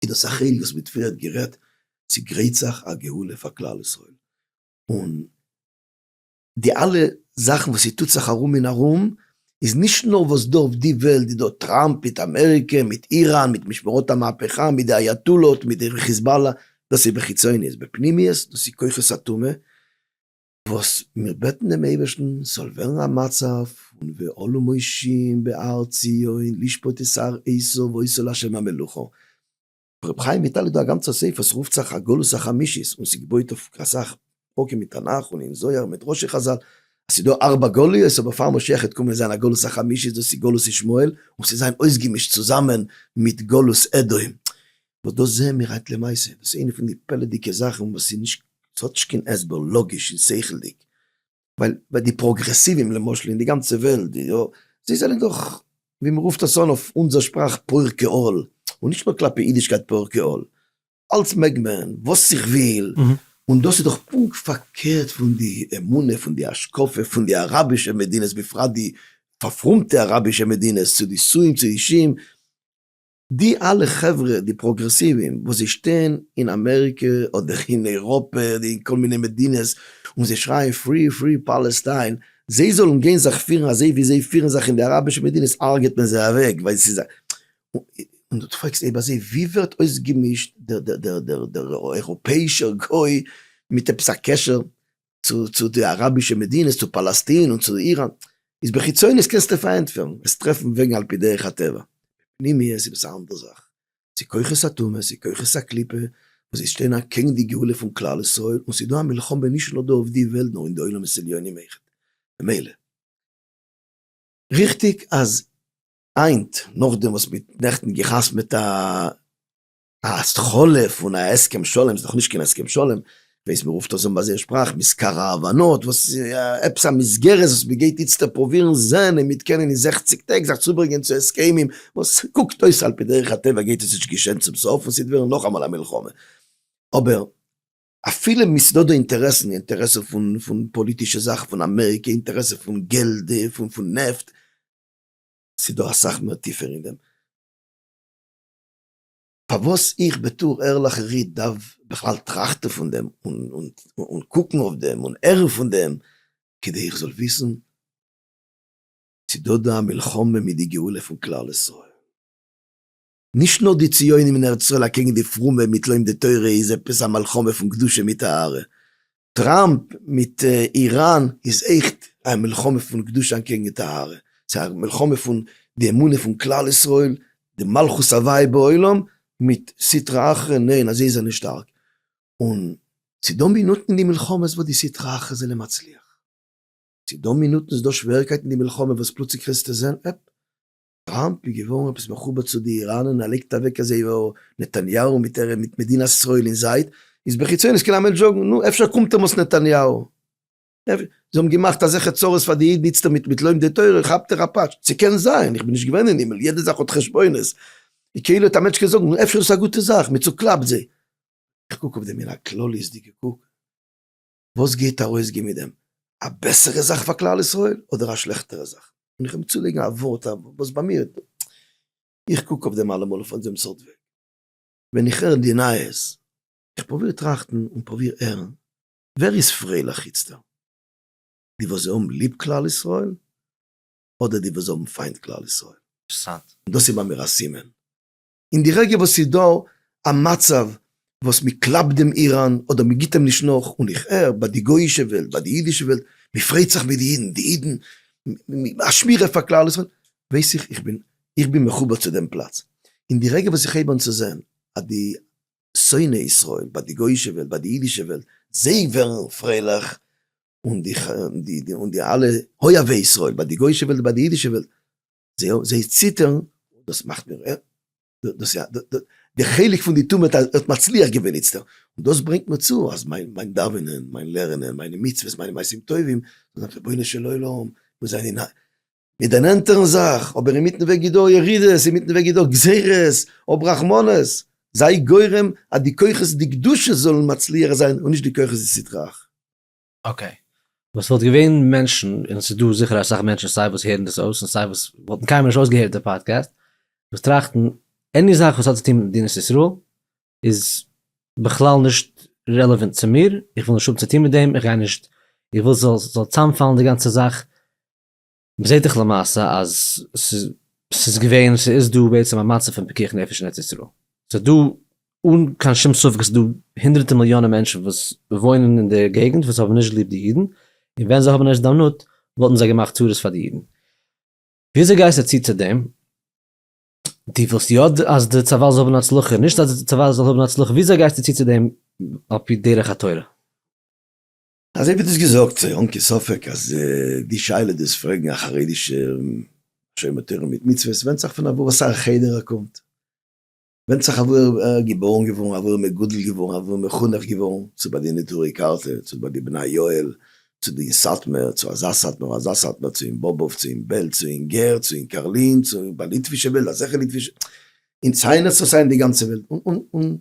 דאס א חלק וואס מיט פריערט גערעדט ס'גרייט זיך א גאולה פאר כלל ישראל און, די אלע זאכן וואס ס'טוט זיך ארום און ארום, איז נישט נאר וואס דא אויף די וועלט איז דא טראמפ מיט אמעריקע מיט איראן מיט משמרות המהפכה מיט די אייאטאלא'ט מיט די חיזבאלא, דאס איז בחיצוניות, בפנימיות דאס איז כוחות הטומאה, וואס מיר בעטן דעם אייבערשטן ס'זאל ווערן א מצב פון ואלו מושיעים בהר ציון לשפוט את שר עשיו ועושו לה' המלוכה, רבי חיים וויטאל איז דא א גאנצער ספר ס'רופט זיך הגלות החמישית און ס'געבויט אויף אסאך פרקים אין תנך און אין זוהר מדרשי חזל אז ס'דא ארבע גלויות אבער פאר משיח העט קומען זיין א גלות החמישית דאס איז גלות ישמעאל און ס'זיין אויסגעמישט צוזאמען מיט גלות אדום וואס דאס זעהן מיר היינט למעשה דאס איז איינע פון די פלא'דיגע זאכן וואס איז נישט ס'האט נישט קיין הסבר לאגיש און שכל'דיג ווייל ביי די פראגרעסיווען למשל אין די גאנצע וועלט די יא זיי זענען דאך ווי מ'רופט עס אן אויף אונזער שפראך פורקי עול, און נישט נאר כלפי אידישקייט פורקי עול, אלץ מעג מען, וואס איך וויל, און דאס איז דאך פונקט פארקערט פון די אמונה פון די השקפה פון די אראבישע מדינות בפרט די פארפרומטע אראבישע מדינות צו די סוים צו אישים, די אלע חברה די פראגרעסיווען וואס זיי שטייען אין אמעריקע אדער אין אייראפע אדער אין כל מיני מדינות און זיי שרייען פרי פרי פאלעסטיין זיי זאלן גיין זיך פירן אזוי ווי זיי פירן זיך אין די אראבישע מדינות הרג'ט מען זיי אוועק ווייל ס'איז א און דו פרעגסט איבער זיי ווי ווערט אויסגעמישט דער דער דער דער אייראפעאישער גוי מיט עפעס א קשר צו די אראבישע מדינות צו פאלאסטין און צו איראן איז בחיצונית קענסטו פארענטפערן עס טרעפן וועגן על פי דרך הטבע בפנימיות איז עפעס א אנדער זאך ס'איז כוחות הטומאה ס'איז כוחות הקליפה וואס זיי שטייען אקעגן די גאולה פון כלל ישראל און ס'איז דא א מלחמה נישט נאר דא אויף די וועלט נאר אין די עולמות עליונים אויכעט ממילא ריכטיג אז היינט נאכדעם וואס מ'האט נעכטן גע'חתמ'עט א א התחלה פון א הסכם שלום איז דאך נישט קיין הסכם שלום, ווייס מען רופט עס אן ביי זייער שפראך מזכר ההבנות, וואס איז עפעס א מסגרת וואס מען גייט איצטער פרובירן זען אויב מ'עט קענען אין זעכציק טעג זיך צוברענגען צו הסכמים, וואס קוקט אויס על פי דרך הטבע גייט עס נישט געשען צום סוף און ס'עט ווערן נאכאמאל א מלחמה, אבער אפילו מיסודו אינטערעסן, אינטערעסע פון פון פאליטישע זאכן פון אמעריקע, אינטערעסע פון געלד פון פון נעפט, ס'דא אסאך מער טיפער אין דעם. פארוואס איך בתור ערליכע איד דארף בכלל טראכטן פון דעם און קוקן אויף דעם און הערן פון דעם כדי איך זאל וויסן צו דא דא א מלחמה מיט די גאולה פון כלל ישראל. נישט נאר די ציונים אין ארץ ישראל אקעגן די פרומע מיט לומדי תורה איז עפעס א מלחמה פון קדושה מיט טהרה, טראמפ מיט איראן איז עכט א מלחמה פון קדושה אנטקעגן טהרה, ס'איז א מלחמה פון די אמונה פון כלל ישראל, די מלכות הוויי בעולם, מיט סטרא אחרא ניין אז זיי זענען שטארק, און ס'איז דא מינוטן אין די מלחמות וואס די סטרא אחרא זענען מצליח, ס'איז דא מינוטן ס'איז דא שוועריקייטן אין די מלחמה וואס פלוצלינג קענסטו זען עפ טראמפ איז געווארן עפעס מחובר צו די איראנען ער לייגט אוועק אז זייער נתניהו מיט ערעב מיט מדינת ישראל אין זייט איז בחיצונית קען א מענטש זאגן נו אפשר קומט ער מאס נתניהו זיי האבן געמאכט אזעלכע צרות פאר די אידן איצטער מיט מיט לומדי תורה כאפט ער א פאטש ס'קען זיין איך בין נישט געווען אין הימל יעדע זאך האט חשבונות איז כאילו א מענטש קען זאגן נו אפשר איז עס א גוטע זאך מען צוקלאפט זיי איך קוק אויף דעם אין א כלליות'דיגע קוק. וואס גייט ארויסגיין מיט דעם? א בעסערע זאך פאר כלל ישראל אדער א שלעכטערע זאך? און איך אים צולייגן א ווארט וואס ביי מיר, איך קוק אויף דעם אלעמאל אויף אזא סארט וועג, ווען איך הער די נייעס, איך פרוביר טראכטן און פרוביר הערן, ווער איז פרייליך איצטערט? די וואס זיי האבן ליב כלל ישראל, אדער די וואס זיי האבן פיינט כלל ישראל? און דאס איז ביי מיר א סימן אין די רגע וואס ס'איז דא א מצב וואס מ'קלאפט דעם איראן אדער מ'גיט אים נישט נאך, און איך הער ביי די גוי'אישע וועלט, ביי די אידישע וועלט, מ'פריידט זיך מיט די אידן, די אידן, א שמירה פאר כלל ישראל, ווייס איך איך בין איך בין מחובר צו דעם פלאץ. אין די רגע וואס איך הייב אן צו זען אז די שונאי ישראל ביי די גוי'אישע וועלט, ביי די אידישע וועלט, זיי ווערן פרייליך, און די און די אלע אוהבי ישראל ביי די גוי'אישע וועלט און ביי די אידישע וועלט, זיי ציטערן און דאס מאכט מיר ר ר, דאס איז די חלק פון די טומאה, ער האט מצליח געווען איצטערט, און דאס ברענגט מיר צו אז מיין דאווענען, מיין לערנען, מיינע מצוות, מיינע מעשים טובים, זאל זיין רבונו של עולם, מיר זענען אין א מיר דערנענטערן זיך, אבער אינמיטן וועג איז דא ירידות, אינמיטן וועג איז דא גזירות, האב רחמנות, זיי גורם אז די כוחות דקדושה זאלן מצליח זיין און נישט די כוחות יצר הרע. אקעי. וואס וואלט געווען מענטשן, און ס'איז דא זיכער אסאך מענטשן סיי וואס הערן דאס אויס און סיי וואס וואלטן קיינמאל נישט אויסגעהערט די פאדקעסט, וואס טראכטן עני זאך וואס האט צו טון מיט מדינת ישראל איז בכלל נישט רעלעווענט צו מיר, איך וויל נישט האבן צו טון מיט דעם, איך גיי נישט, איך וויל ס'זאל צוזאמפאלן די גאנצע זאך, מ'זעט דאך למעשה אז ס'איז געווען, ס'איז דא בעצם א מצב פון פיקוח נפש אין ארץ ישראל. ס'איז דא, אן קיין שום ספק איז דא הונדרעטע מיליאנען מענטשן וואס וואוינען אין די געגנט וואס האבן נישט ליב די אידן, און ווען זיי האבן הזדמנות וואלטן זיי געמאכט צרות פאר די אידן. וויאזוי גייסטו צו צו דעם? דו ווילסט יא אז די צבא זאל האבן הצלחה, נישט אז די צבא זאל האבן הצלחה, וויאזוי גייסטו צו צו דעם על פי דרך התורה? אזוי ווי דו האסט געזאגט ס'איז אן קיין ספק אז די שאלה דאס פרעגן א חרדישע שומר תורה מיט מצוות ווענדט זיך פון אוואו אסאך חדר ער קומט, ווענדט זיך אוואו ער איז געבוירן געווארן, אוואו ער איז מגודל געווארן, אוואו ער איז מחונך געווארן, צו ביי די נטורי קרתא, צו ביי די בני יואל, צו די אין סאטמער, צו אזא סאטמאר אזא סאטמאר, צו אין באבוב, צו אין בעלז, צו אין גער, צו אין קארלין, צו ביי ליטווישע וועלט, אזעלכע ליטווישע, אין ציינער צו סיי אין די גאנצע וועלט, און און און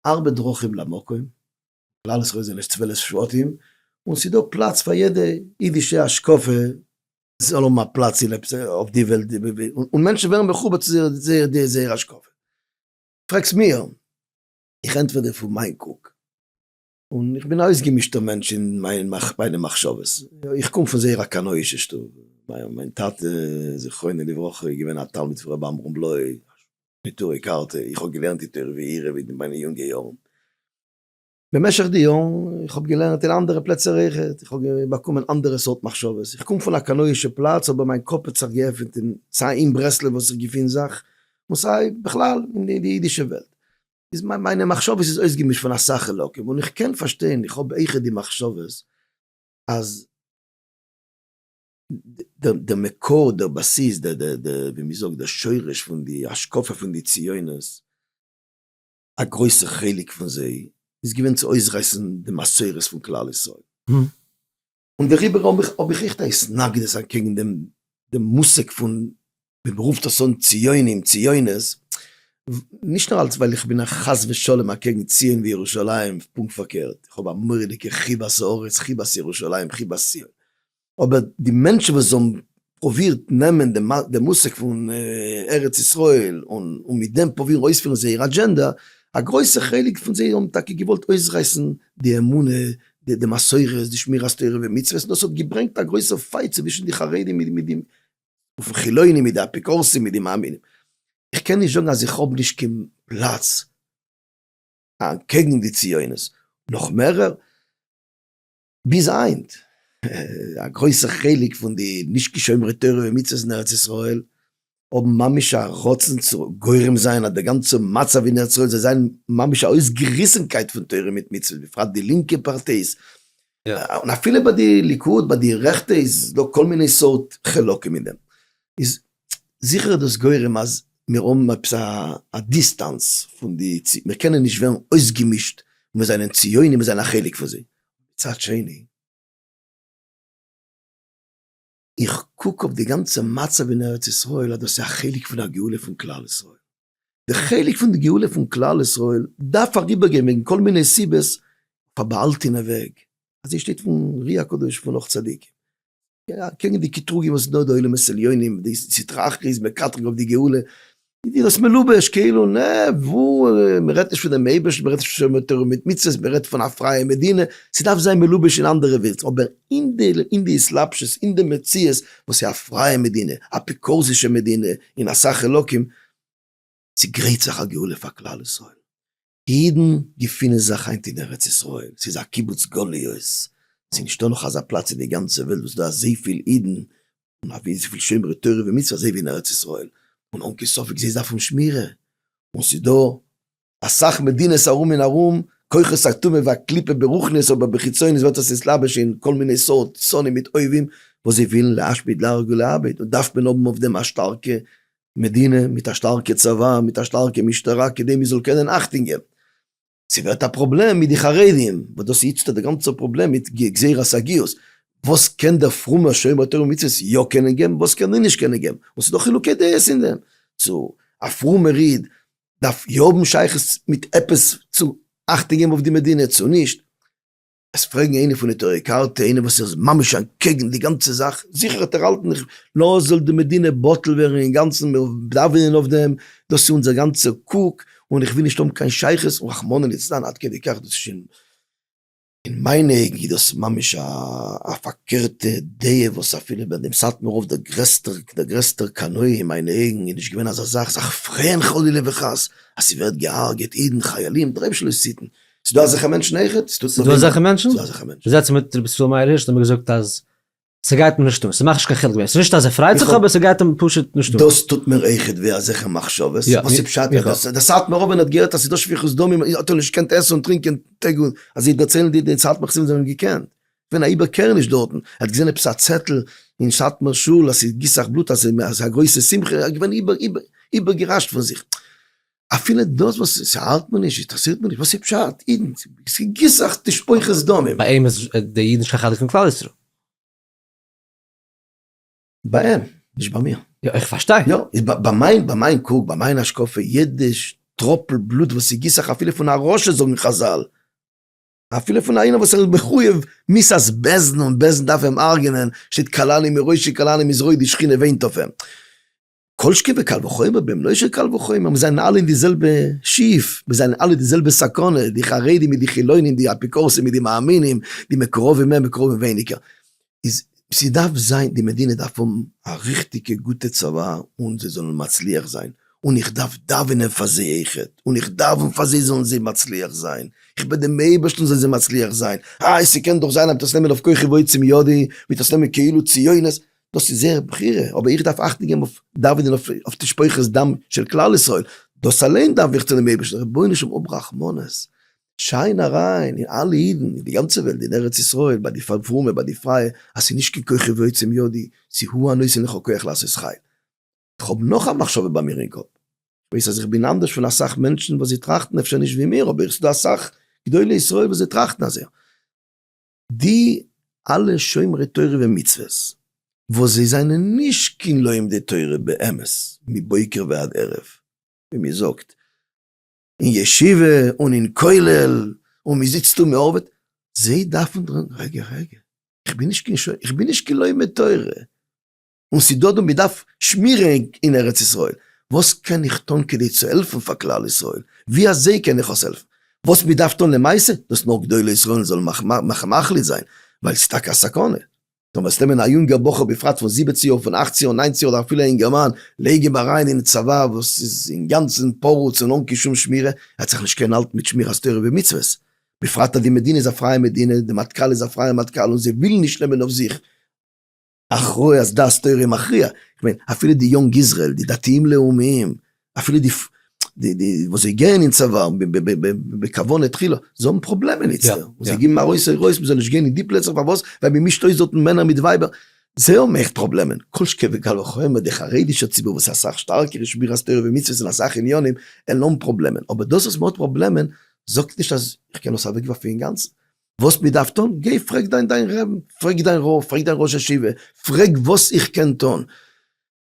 ארבע דרכים למקום, כלל ישראל זענען נישט צוועלף שבטים, און ס'איז דא פלאץ פאר יעדע אידישע השקפה זאל האבן א פלאץ אין עפעס אויף די וועלט, און מענטשן ווערן מחובר צו זייער השקפה. פרעגסט מיר, איך ענטפער דיר פון מיין קוק, און איך בין א אויסגעמישטער מענטש אין מיינע מחשבות, איך קום פון זייער א קנאי'שע שטוב, מיין טאטע זכרונו לברכה איז געווען א תלמיד פון רבי עמרם בלוי, נטורי קרתא, איך האב געלערנט די תורה ויראה אין מיינע יונגע יארן, במשך די יארן, איך האב געלערנט אין אנדערע פלעצער אויכעט, איך האב באקומען אנדערע סארט מחשבות, איך קום פון א קנאי'שע פלאץ אבער מיין קאפ האט זיך געעפענט אין סיי אין ברסלב וואס איך געפין זיך, און סיי בכלל אין די אידישע וועלט, איז מיינע מחשבות איז אויסגעמישט פון אסאך חלקים, און איך קען פארשטיין, איך האב אויכעט די מחשבות, אז די מקור, די בסיס, די די די ווי מ'זאגט די שורש פון די השקפה פון די ציונות, א גרויסע חלק פון זיי איז געווען צו אויסרייסן די מסורת פון כלל ישראל, און דעריבער האב איך האב איך עכט א התנגדות אקעגן דעם דעם מושג פון ווי מען רופט עס אן ציונים ציונות, נישט נאר אלס ווייל איך בין חס ושלום אקעגן ציון וירושלים, פונקט פארקערט, איך האב א מורא'דיגע חיבת הארץ, חיבת ירושלים, חיבת ציון, אבער די מענטשן וואס האבן פרובירט נעמען די מושג פון ארץ ישראל און מיט דעם פרובירן אויספירן זייער אדזשענדא, א גרויסע חלק פון זיי האבן טאקע געוואלט אויסרייסן די אמונה, די מסורות, די שמירת תורה ומצוות, און דאס האט געברענגט א גרויסע פייט צווישן די חרדים מיט די חילונים, מיט די אפיקורסים, מיט די מאמינים. איך קען נישט זאגן אז איך האב נישט קיין פלאץ אנטקעגן די ציונות, נאך מערער, ביז היינט, א גרויסע חלק פון די נישט כשומרי תורה ומצוות אין ארץ ישראל האבן ממש א רצון צו גורם זיין אז די גאנצע מצב אין ארץ ישראל זאל זיין ממש א אויסגעריסענקייט פון תורה מיט מצוות, בפרט די לינקע פארטייס, און אפילו ביי די ליכוד ביי די רעכטע איז דא כל מיני סארט חלקים אין דעם, איז זיכער איז דאס גורם אז מיר האבן עפעס א דיסטענס פון די צ, מיר קענען נישט ווערן אויסגעמישט און מיר זענען ציונים מיר זענען א חלק פון זיי. מצד שני, איך קוק אויף די גאנצע מצב אין ארץ ישראל אז דאס איז א חלק פון א גאולה פון כלל ישראל, די חלק פון די גאולה פון כלל ישראל דארף אריבער גיין וועגן כל מיני סיבות אויף א באהאלטענע וועג, אזוי שטייט פון רי הקדוש פון אור צדיקים. אקעגן די קטרוגים וואס נאר די עולמות עליונים די סטרא אחרא איז מקטרג אויף די גאולה, איז דיר עס מלובש כאילו נע וואו מען רעדט נישט פון דעם אייבערשטן מען רעדט נישט פון שומר תורה ומצוות מען רעדט פון א פרייע מדינה ס'דארף זיין מלובש אין אנדערע ווירצן אבער אין די אין די התלבשות אין די מציאות וואס איז א פרייע מדינה אפיקורסישע מדינה אין א סך אלקים ס'גרייט זיך א גאולה פאר כלל ישראל אידן געפינען זיך היינט אין ארץ ישראל, ס'איז א קיבוץ גליות, ס'איז נישטא נאך אזא פלאץ אין די גאנצע וועלט וואס איז דא אזויפיל אידן און אזויפיל שומרי תורה ומצוות אזוי ווי אין ארץ ישראל, און אן קיין ספק זיי דארפן שמירה, און ס'איז דא אסאך מדינות ארום און ארום, כוחות הטומאה והקליפה ברוחניות אבער בחיצוניות ווערט עס נסתלבש אין כל מיני סארט שונאים מיט אויבים וואס זיי ווילן להשמיד להרוג ולאבד, און דארף מען האבן אויף דעם א שטארקע מדינה מיט א שטארקע צבא מיט א שטארקע משטרה כדי מען זאל קענען אכטונג געבן. ס'ווערט א פראבלעם מיט די חרדים וואס דאס איז איצטערט די גאנצע פראבלעם מיט גזירת הגיוס, וואס קען דער פרומער שומר תורה ומצוות יא קענען געבן וואס קען ער נישט קענען געבן, און ס'איז דא חילוקי דעות אין דעם, צו א פרומער איד דארף יא האבן שייכות מיט עפעס צו אכטונג געבן אויף די מדינה צו נישט. עס פרעגן איינע פון נטורי קרתא, איינער וואס איז ממש אנטקעגן די גאנצע זאך, זיכער האט ער האלטן איך לאז זאל די מדינה בטל ווערן אינגאנצן, מיר דאווענען אויף דעם, דאס איז אונזער גאנצע קוק, און איך וויל נישט האבן קיין שייכות, און רחמנא ליצלן עד כדי כך, דאס איז שוין, אין מיינע אויגן איז דאס ממש א פארקערטע דעה, וואס אפילו ביי דעם סאטמאר רב דער גרעסטער דער גרעסטער קנאי אין מיינע אויגן איז נישט געווען אזא זאך זיך פרעהן חלילה וחס אז ס'ווערט געהארגעט אידן חיילים דרעפשלוסיתן, ס'דא אזעלכע מענטשן אויך? ס'דא אזעלכע מענטשן? ס'דא אזעלכע מענטשן. זעצן מיט רבי ישראל מאיר הירש האט ער מיר געזאגט אז ס'גייט אים נישט אן, ס'מאכט נישט קיין חילוק ווער, ס'איז נישט אז ער פרייט זיך אבער ס'גייט אים פשוט נישט אן. דאס טוט מיר אויכעט וויי אזעלכע מחשבות, וואס איז פשט אז דער סאטמאר רבי ווען ער האט געהערט אז ס'איז דא שפיכות דמים האט ער נישט געקענט עסן און טרינקען טעג און אז זיי דערציילן דיר די סאטמאר חסידים זיי האבן געקענט ווען א איבערקערעניש דארטן, ער האט געזען עפעס א צעטל אין סאטמאר שול אז ס'גיסט זיך בלוט אז ס'איז א גרויסע שמחה, ער איז געווען איבער איבער איבערגעריישט פון זיך. אפילו דאס וואס ס'האלט מיר נישט, אינטערעסירט מיר נישט, וואס איז פשט? אידן, ס'געסאכט די שפוכי זדונים. ביי אים איז די אידן נישט קיין חלק פון כלל ישראל. ביי אים, נישט ביי מיר. יא, איך פארשטיי. יא, איז ביי מיין, ביי מיין קוק, ביי מיין השקפה, יעדע טראפל בלוט וואס ס'גיסט זיך אפילו פון א רשע זאגן חזל, אפילו פון איינער וואס ער איז מחויב מיס אז בעסטן און בעסטן דארף אים הרג'נען, שטייט קאלאני מראשי קאלאני מזרועי די שכינה וואינט אויף אים. כל שכן וקל וחומר בן בנו של קל וחומר, מיר זענען אלע אין די זעלבע שיף, מיר זענען אלע די זעלבע סכנה, די חרדים מיט די חילונים, די אפיקורסים מיט די מאמינים, די מקורבים מער מקורבים ווייניגער, איז ס'דארף זיין די מדינה דארף האבן א ריכטיגע גוטע צבא און זיי זאלן מצליח זיין, און איך דארף דאווענען פאר זיי אויך, און איך דאווען פאר זיי זאלן זיי מצליח זיין, איך בעט דעם אייבערשטן זאל זיי מצליח זיין, איי ס'קען דאך זיין אז מ'וועט עס נעמען אויף כוחי ועוצם ידי, מ'וועט עס נעמען כאילו ציונות, דאס איז זייער בחירה, אבער איך דארף אכטונג געבן אויף דאווענען אויף תשפוכת דם של כלל ישראל, דאס אליין דארף איך צו דעם אייבערשטן, רבונו של עולם האב רחמנות, שיין אריין אין אלע אידן אין די גאנצע וועלט, אין ארץ ישראל, ביי די פרומע, ביי די פרייע, אז ס'איז נישט קיין כוחי ועוצם ידי, ס'איז הוא הנותן לך כח לעשות חיל. איך האב נאך א מחשבה ביי מיר אין קאפ, כ'ווייס אז איך בין אנדערש פון אסאך מענטשן וואס זיי טראכטן אפשר נישט ווי מיר, אבער ס'איז דא אסאך גדולי ישראל וואס זיי טראכטן אזוי, די אלע שומרי תורה ומצוות וואס זיי זענען נישט קיין לומדי תורה באמת מבוקר ועד ערב, ווי מען זאגט אין ישיבה און אין כולל און מען זיצט און מען ארבעט, זיי דארפן דארט, רגע רגע, איך בין נישט קיין לומד תורה, און ס'דא דא מ'דארף שמירה אין ארץ ישראל, וואס קען איך טון כדי צו העלפן פאר כלל ישראל? ווי אזוי קען איך עס העלפן? וואס מ'דארף טון למעשה? דאס נאר גדולי ישראל זאלן מחליט זיין, ווייל ס'טאקע א סכנה. טאמער וועסט נעמען א יונגער בחור בפרט פון זיבעצן יאר, פון אכצן יאר, ניינצן יאר, אדער אפילו א אינגערמאן, לייג אים אריין אין צבא וואס איז אינגאנצן פרוץ און אן קיין שום שמירה, ער וועט זיך נישט קענען האלטן מיט שמירת תורה ומצוות. בפרט אז די מדינה איז א פרייע מדינה, די מטכ"ל איז א פרייע מטכ"ל און זיי ווילן נישט נעמען אויף זיך. אחרי אז דעת תורה איז מכריע, כ'מיין אפילו די יונג איזרעיל, די דתיים לאומיים, אפילו די וואס זיי גייען אין צבא בכוונה תחילה, זיי האבן פראבלעמען איצטער, און זיי גיבן ארויס הוראות מ'זאל נישט גיין אין די פלעצער, פארוואס? ווייל מ'מישט אויס דארטן מענער מיט ווייבער, זיי האבן עכט פראבלעמען, כל שכן וקל וחומר די חרדישע ציבור וואס איז אסאך שטארקער אין שמירת תורה ומצוות אין אסאך עניינים, עלעם פראבלעמען, אבער דאס אז מ'האט פראבלעמען זאגט נישט אז כ'קען עס אוועקווארפן אינגאנצן, וואס מען דארף טון, גיי פרעג דיין דיין רב, פרעג דיין רב, פרעג דיין ראש ישיבה, פרעג וואס איך קען טון.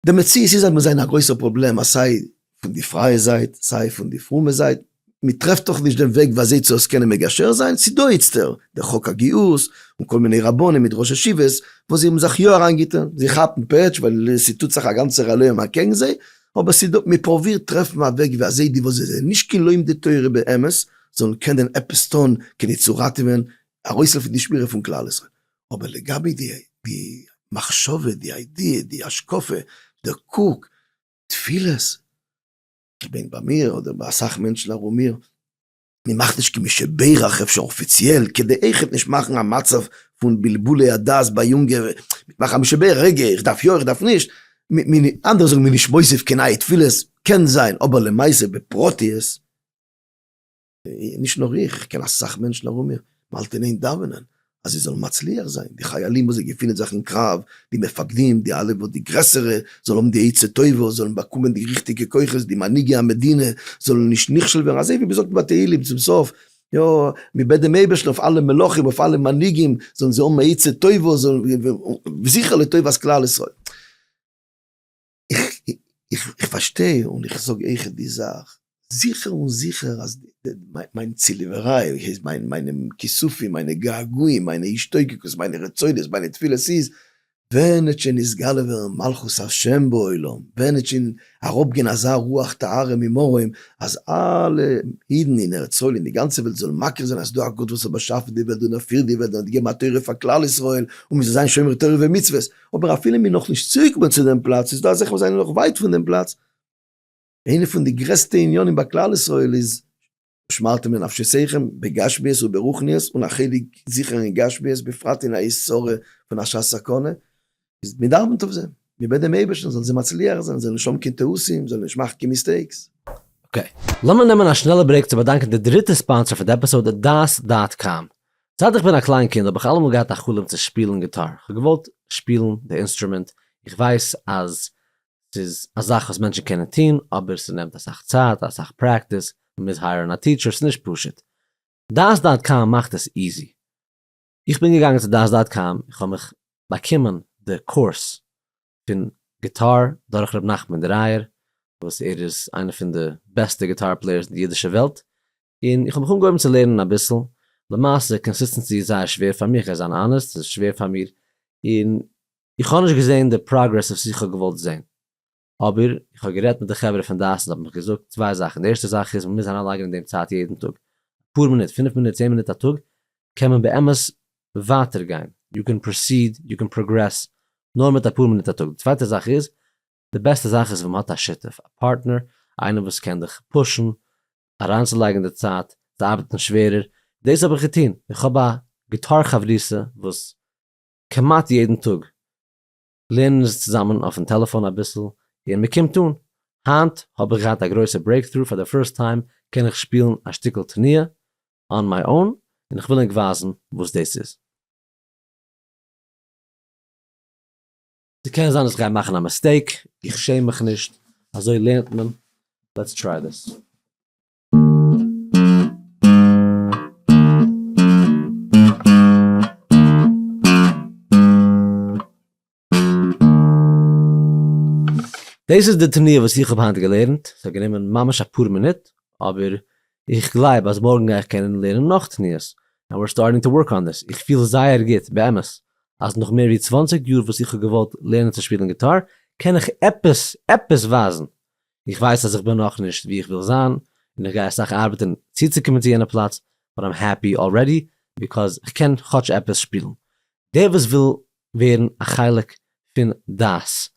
די מציאות איז אז מיר זענען א גרויסער פראבלעם אז סיי פון די פרייע זייט, סיי פון די פרומע זייט, מען טרעפט דאך נישט דעם וועג ווי אזוי צו עס קענען מגשר זיין, ס'איז דא איצטער דער חוק הגיוס, און כל מיני רבנים מיט ראש ישיבות וואס זיי האבן זיך יא אריינגעטון, זיי כאפן פעטש ווייל ס'טוט זיך א גאנצער עליהום אקעגן זיי, אבער ס'איז דא, מען פרובירט טרעפן א וועג ווי אזוי די וואס זיי זענען נישט קיין לומדי תורה באמת, זאלן קענען עפעס טון כדי צו ראטעווען, ארויסהעלפן די שמירה פון כלל ישראל. אבער לגבי די מחשבה, די איידיע, די השקפה, די קוק, תפילות, כ'בין ביי מיר אדער ביי אסאך מענטשן ארום מיר, מען מאכט נישט כמי שברך, אפשר אפיציעל, כדי עכפ נישט מאכן א מצב פון בלבולי הדעת ביי יונגע, מ'מאכט כמי שברך, רגע, איך דארף יא, איך דארף נישט, אנדערע זאגן מ'איז נישט מוסיף קיין נייע תפילות, קען זיין, אבער למעשה בפרטיות, נישט נאר איך, איך קען אסאך מענטשן ארום מיר, מען האלט אין איין דאווענען אז זיי זאלן מצליח זיין, די חיילים וואס זיי געפינען זיך אין קרב, די מפקדים, די אלע וואס די גרעסערע, זאל האבן די עצה טובה, זאלן באקומען די ריכטיגע כוחות, די מנהיגי המדינה זאלן נישט נכשל ווערן, אזוי ווי מען זאגט בתהלים צום סוף, יא, מען בעט דעם אייבערשטן אויף אלע מלכים, אויף אלע מנהיגים, זאלן זיי האבן א עצה טובה, זאלן, וזכר לטובת כלל ישראל. איך פארשטיי און איך זאג אייך די זאך, זיכער און זיכער אז מיין צוליבעריי, מיינע כיסופים, מיינע געגועים, מיינע השתוקקות, מיינע רצונות, מיינע תפילות איז, ווען עט שוין נתגלה ווערן מלכות השם בעולם, ווען עט שוין אראפ גיין אזא רוח טהרה ממרום, אז אלע אידן אין ארץ ישראל אין די גאנצע וועלט זאלן מכיר זיין אז ס'איז דא א גאט וואס האט באשאפן די וועלט און ער פירט די וועלט און ער האט געגעבן א תורה פאר כלל ישראל און מ'זאל זיין שומרי תורה ומצוות, אבער אפילו מיר נאך נישט צוריקגעקומען צו דעם פלאץ איז דא אזעלכע וואס זענען נאך ווייט פון דעם פלאץ, איינע פון די גרעסטע עניינים ביי כלל ישראל איז ושמרתם לנפשותיכם בגשמיות וברוחניות און א חלק זיכער אין גשמיות בפרט אין א עת צרה פון א שעת סכנה איז מען דאווענט אויף זיי מען בעט דעם אייבערשטן זאלן זיי מצליח זיין זאלן נישט האבן קיין טעותים זאלן נישט מאכן קיין מיסטעיקס. אקעי, לאמיר נעמען א שנעלע ברעיק צו באדאנקען די דריטע ספאנסער פון די עפיסאד דעת דאט קאם. זייט איך בין א קליין קינד האב איך אלעמאל געהאט א חלום צו שפילן גיטאר, איך האב געוואלט שפילן די אינסטרומענט, איך ווייס אז ס'איז א זאך וואס מענטשן קענען טון, אבער ס'נעמט אסאך צייט, אסאך פרעקטיס, מ'מוז הייערן א טיטשער, ס'איז נישט פשוט. דעת דאט קאם מאכט עס איזי. איך בין געגאנגען צו דעת דאט קאם, איך האב מיך באקומען די קורס פון גיטאר דורך ר' נחמן דרייער, וואס ער איז איינער פון די בעסטע גיטאר פלעיערס אין די אידישע וועלט, און איך האב מיך אנגעהויבן צו לערנען אביסל, למעשה קאנסיסטענסי איז זייער שווער פאר מיר, איך וועל זיין אנעסט, ס'איז שווער פאר מיר, און איך האב נישט געזען די פראגרעס וואס איך האב געוואלט זען, אבער איך האב גערעדט מיט די חברה פון דעת און זיי האבן מיך געזאגט צוויי זאכן, די ערשטע זאך איז מען מוז אריינלייגן אין דעם צייט יעדן טאג, אפאר מינוט, פינף מינוט, צען מינוט א טאג, קען מען באמת ווייטער גיין, יו קען פראסיד, יו קען פראגרעס, נאר מיט אפאר מינוט א טאג, די צווייטע זאך איז, די בעסטע זאך איז ווען מען האט א שותף, א פארטנער, איינער וואס קען דיך פושן אריינצולייגן די צייט, צו ארבעטן שווערער, דאס האב איך געטון, איך האב א גיטאר חברותא וואס כמעט יעדן טאג לערנען אונז צוזאמען אויפן טעלעפאן אביסל און מען קומט אן, היינט האב איך געהאט א גרויסע ברעיקטרו, פאר די פירסט טיים קען איך שפילן א שטיקל תנועה אן מיי אן, און איך וויל ענק ווייזן וואס דאס איז. ס'קען זיין אז איך גיי מאכן א מיסטעיק, איך שעם מיך נישט, אזוי לערנט מען, לעטס טריי דיס. דאס איז די תנועה וואס איך האב היינט געלערנט, ס'האט גענומען ממש אפאר מינוט, אבער איך גלייב אז מארגן גיי איך קענען לערנען נאך תניעות, ענד ווער סטארטינג טו ווארק אן דיס, איך פיל זייער גוט באמת אז נאך מער ווי צוואַנציק יאר וואס איך האב געוואלט לערנען צו שפילן גיטאר, קען איך עפעס עפעס ווייזן, איך ווייס אז איך בין נאכנישט ווי איך וויל זיין, און איך גיי אסאך ארבעטן צוצוקומען צו יענע פלאץ, באט איים העפי אלרעדי ביקאוז איך קען כאטש עפעס שפילן. דער וואס וויל ווערן א חלק פון דעס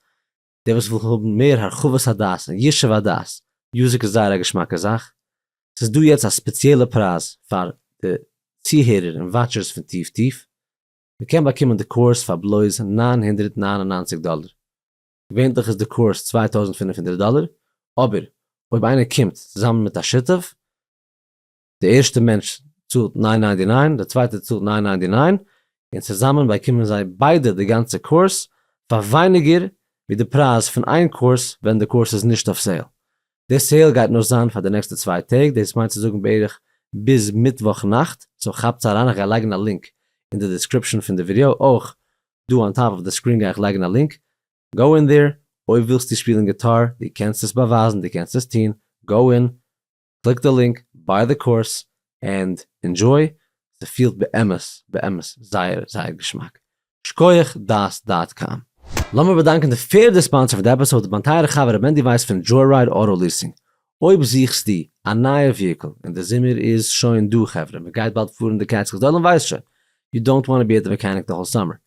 דער וואס וויל האבן מער הרחבת הדעת און ישוב הדעת, מוזיק איז זייער א געשמאקע זאך, ס'איז דא יעצט א ספעציעלע פרייז פאר די צוהערער און וואטשערס פון טיף טיף, מ'קען באקומען די קורס פאר בלויז נײַן הונדערט נײַן און נײַנציק דאלער, געווענליך איז די קורס צוויי טויזנט פֿינף הונדערט דאלער, אבער אויב איינער קומט צוזאמען מיט א שותף, די ערשטע מענטש צאלט ניין ניינטי ניין, די צווייטע צאלט ניין ניינטי ניין, און צוזאמען באקומען זיי ביידע די גאנצע קורס פאר ווייניגער ווי די פרייז פון איין קורס ווען די קורס איז נישט אויף סעיל. די סעיל גייט נאר זיין פאר די נעקסטע צוויי טעג, דאס מיינט צו זאגן בערך ביז מיטוואך נאכט, סאו כאפטס אריין, איך גיי לייגן א לינק אין די דעסקריפשאן פון די ווידעא, אויך דא אן טאפ אויף די סקרין גיי איך לייגן א לינק, גאו אין דער, אויב ווילסטו שפילן גיטאר, דו קענסט עס באווייזן, דו קענסט עס טון, גאו אין, קליק די לינק, ביי די קורס, ענד אינדזשוי, ס'פילט באמת באמת זייער זייער געשמאק. שקויעך דעת דאט קאם. לאמיר באדאנקען די פערדע ספאנסער פון די עפיסאד, מיין טייערע חבר ר' מענדי ווייס פון דזשוירייד אוטא ליסינג. אויב זוכסטו א נייע וויהיקל און די זומער איז שוין דא חברה, מ'גייט באלד פארן די קעטסקילס, די עולם ווייסט שוין, יו דאונט וואנט טו בי עט די מעקעניק די האול סאמער.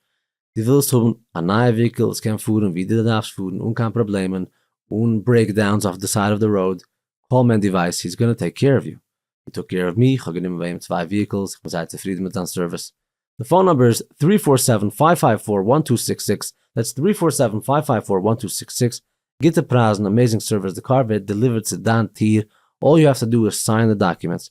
דו ווילסט האבן א נייע וויקל וואס קען פארן ווי דו דארפסט פארן אן קיין פראבלעמען, אן ברעיק דאונס אויף די סייד אוו די ראוד, קאל מענדי ווייס הי איז גאנא טעיק קעיר אוו יו, הי טוק קעיר אוו מי, כ'האב גענומען ביי אים צוויי וויהיקלס, איך בין זייער צופרידן מיט זיין סערוויס. די פאון נומבער איז טרי פאר סעווען פייוו פייוו פאר וואן טו סיקס סיקס, דעטס טרי פאר סעווען פייוו פייוו פאר וואן טו סיקס סיקס, גוטע פרייזן, אמעזינג סערוויס, די קאר ווערט דעליווערט צו דיין טיר, אלל יו העוו טו דא איז סיין די דאקומענטס,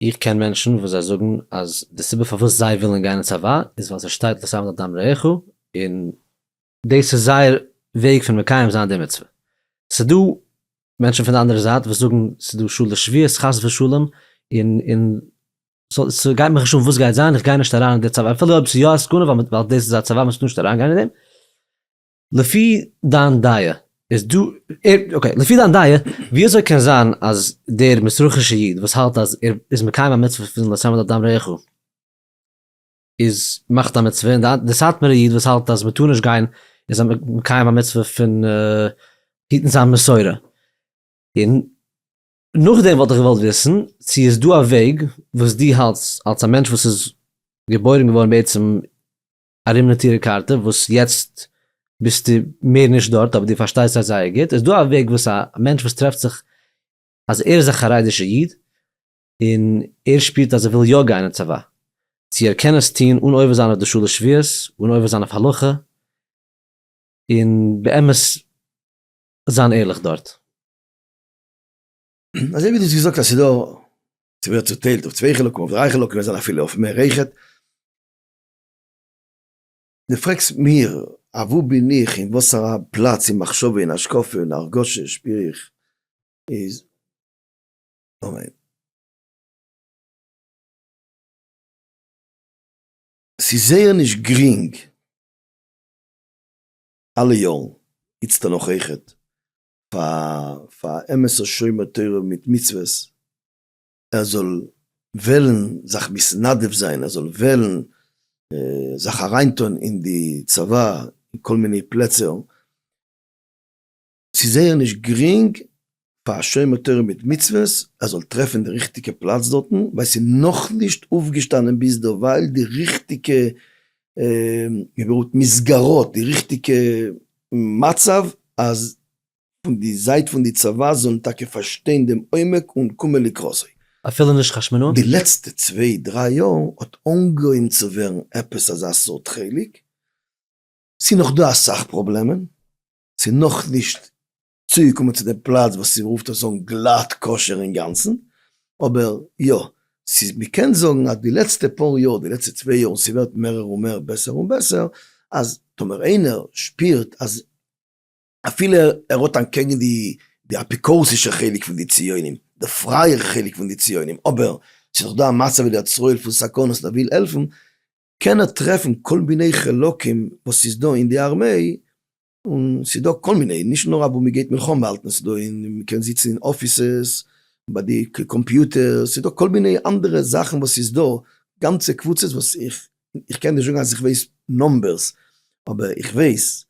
איך קען מענטשן וואס זיי זאגן אז די סיבה פארוואס זיי ווילן גיין אין צבא איז ווייל ס'שטייט לא תעמוד על דם רעיך און דאס איז זייער וועג פון מקיים זיין די מצוה. ס'דא מענטשן פון די אנדערע זייט וואס זאגן ס'דא שלש שביעות חס ושלום און און ס'גייט מיך נישט אן וואס גייט זיין איך גיי נישט אריין אין די צבא אפילו אויב ס'איז יא א סכנה ווייל דאס איז א צבא מ'טאר נישט אריינגיין אין דעם. לפי דיין דעה איז דא, אקעי, לפי דיין דעה ווי אזוי קען זיין אז דער מזרחישע איד וואס האלט אז ער איז מקיים א מצוה פון לשם את אדם רעיך איז מאכט א מצוה און די סאטמארע איד וואס האלט אז מען טאר נישט גיין איז מקיים א מצוה פון היטן זיין מסורה, און נאכדעם וואלט איך געוואלט וויסן צו איז דא א וועג וואס דו האלטס אלס א מענטש וואס איז געבוירן געווארן בעצם ארום די טירע קארטע וואס יעצט ביסטו מער נישט דארט אבער דו פארשטייסט זיי זייער גוט, איז דא א וועג וואס א מענטש וואס טרעפט זיך אז ער איז א חרדישע איד און ער שפירט אז ער וויל יא גיין אין צבא צו ער קען עס טון אן עובר זיין אויף די שלש שבועות, אן עובר זיין אויף הלכה און באמת זיין ערליך דארט. אזוי ווי דו האסט געזאגט אז ס'איז דא, ס'ווערט צוטיילט אויף צוויי חלקים, אויף דריי חלקים, אויב זענען אפילו אויף מער אויכעט. דו פרעגסט מיר אוואו בין איך אין וואסארא פלאץ אין מחשבה אין השקפה אין הרגשה שפיר איך איז אמן. ס'איז זייער נישט גרינג אלע יארן, איצטער נאך העכער, פאר א אמת'ער שומר תורה מיט מצוות ער זאל וועלן זיך מתנדב זיין, ער זאל וועלן זיך אריין טון אין די צבא, אין כל מיני פלעצער, ס'איז זייער נישט גרינג פאר א שומר תורה מיט מצוות ער זאל טרעפן די ריכטיגע פלאץ דארטן, ווייל ס'איז נאכנישט אויפגעשטאנען ביזדערווייל די ריכטיגע מסגרות, די ריכטיגע מצב אז פון די זייט פון די צבא זאלן טאקע פארשטיין דעם עומק און קומען לקראת זיי. אפילו נישט חשמונא? די לעצטע צוויי דריי יאר האט אנגעהויבן צו ווערן עפעס אזא סארט חלק, ס'איז נאך דא אסאך פראבלעמען, ס'איז נאכנישט צוגעקומען צו די פלאץ וואס צו רופט עס אן גלאט כשר אינגאנצן, אבער יא, ס'איז מ'קען זאגן אז די לעצטע פאר יאר, די לעצטע צוויי יאר, און ס'ווערט מערער און מער בעסער און בעסער, אז טאמער איינער שפירט אז. אפילו ער האט אנטקעגן די אפיקורסישע חלק פון די ציונים, די פרייער חלק פון די ציונים, אבער ס'איז דאך דא א מצב ווי דער צוהל פון סכנות און ער וויל העלפן, קען ער טרעפן כל מיני חלקים וואס ס'איז דא אין די ארמעי, און ס'איז דא כל מיני, נישט נאר אוואו מ'גייט מלחמה האלטן, ס'איז דא אין, מ'קען זיצן אין אפיסעס, ביי די קאמפיוטערס, ס'איז דא כל מיני אנדערע זאכן וואס ס'איז דא גאנצע קבוצות וואס איך, איך קען נישט זאגן אז איך ווייס נומבערס, אבער איך ווייס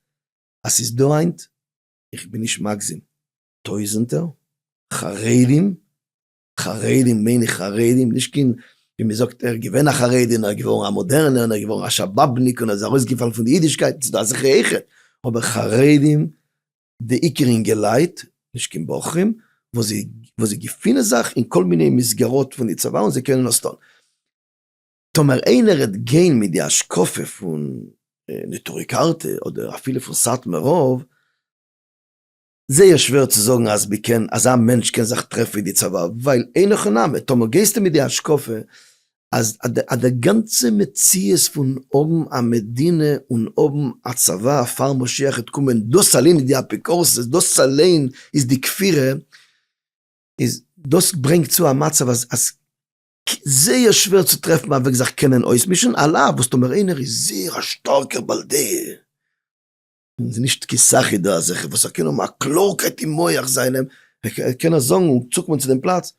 אז ס'איז דא היינט, איך בין נישט מגזים, טויזענטער חרדים, חרדים מיין איך חרדים, נישט קיין ווי מ'זאגט ער איז געווען א חרדי און ער איז געווארן א מאדערנער און ער איז געווארן א שאבאבניק און ער איז ארויסגעפאלן פון די אידישקייט, ס'איז דא אזעלכע אויכעט, אבער חרדים, די עיקר אינגעלייט, נישט קיין בחורים, וואס זיי געפינען זיך אין כל מיני מסגרות פון די צבא און זיי קענען עס טון. טאמער איינער העט גיין מיט די השקפה פון נטורי קרתא אדער אפילו פון סאטמאר רב, זייער שווער צו זאגן אז מ'קען, אזא מענטש קען זיך טרעפן אין די צבא, ווייל אין הכי נמי, טאמער גייסטו מיט די השקפה אז די גאנצע מציאות פון האבן א מדינה און האבן א צבא פאר משיח העט קומען, דאס אליין איז די אפיקורסות, דאס אליין איז די כפירה, איז דאס ברענגט צו א מצב אז ק, זייער שווער צו טרעפן א וועג זיך קענען אויסמישן, על אף וואס טאמער איינער איז זייער א שטארקער בעל דעה, און ס'איז נישט קיין סאך איז דא אזעלכע וואס ער קען האבן א קלארקייט אין מח זיינעם, ער קען עס זאגן און צוקומען צו דעם פלאץ,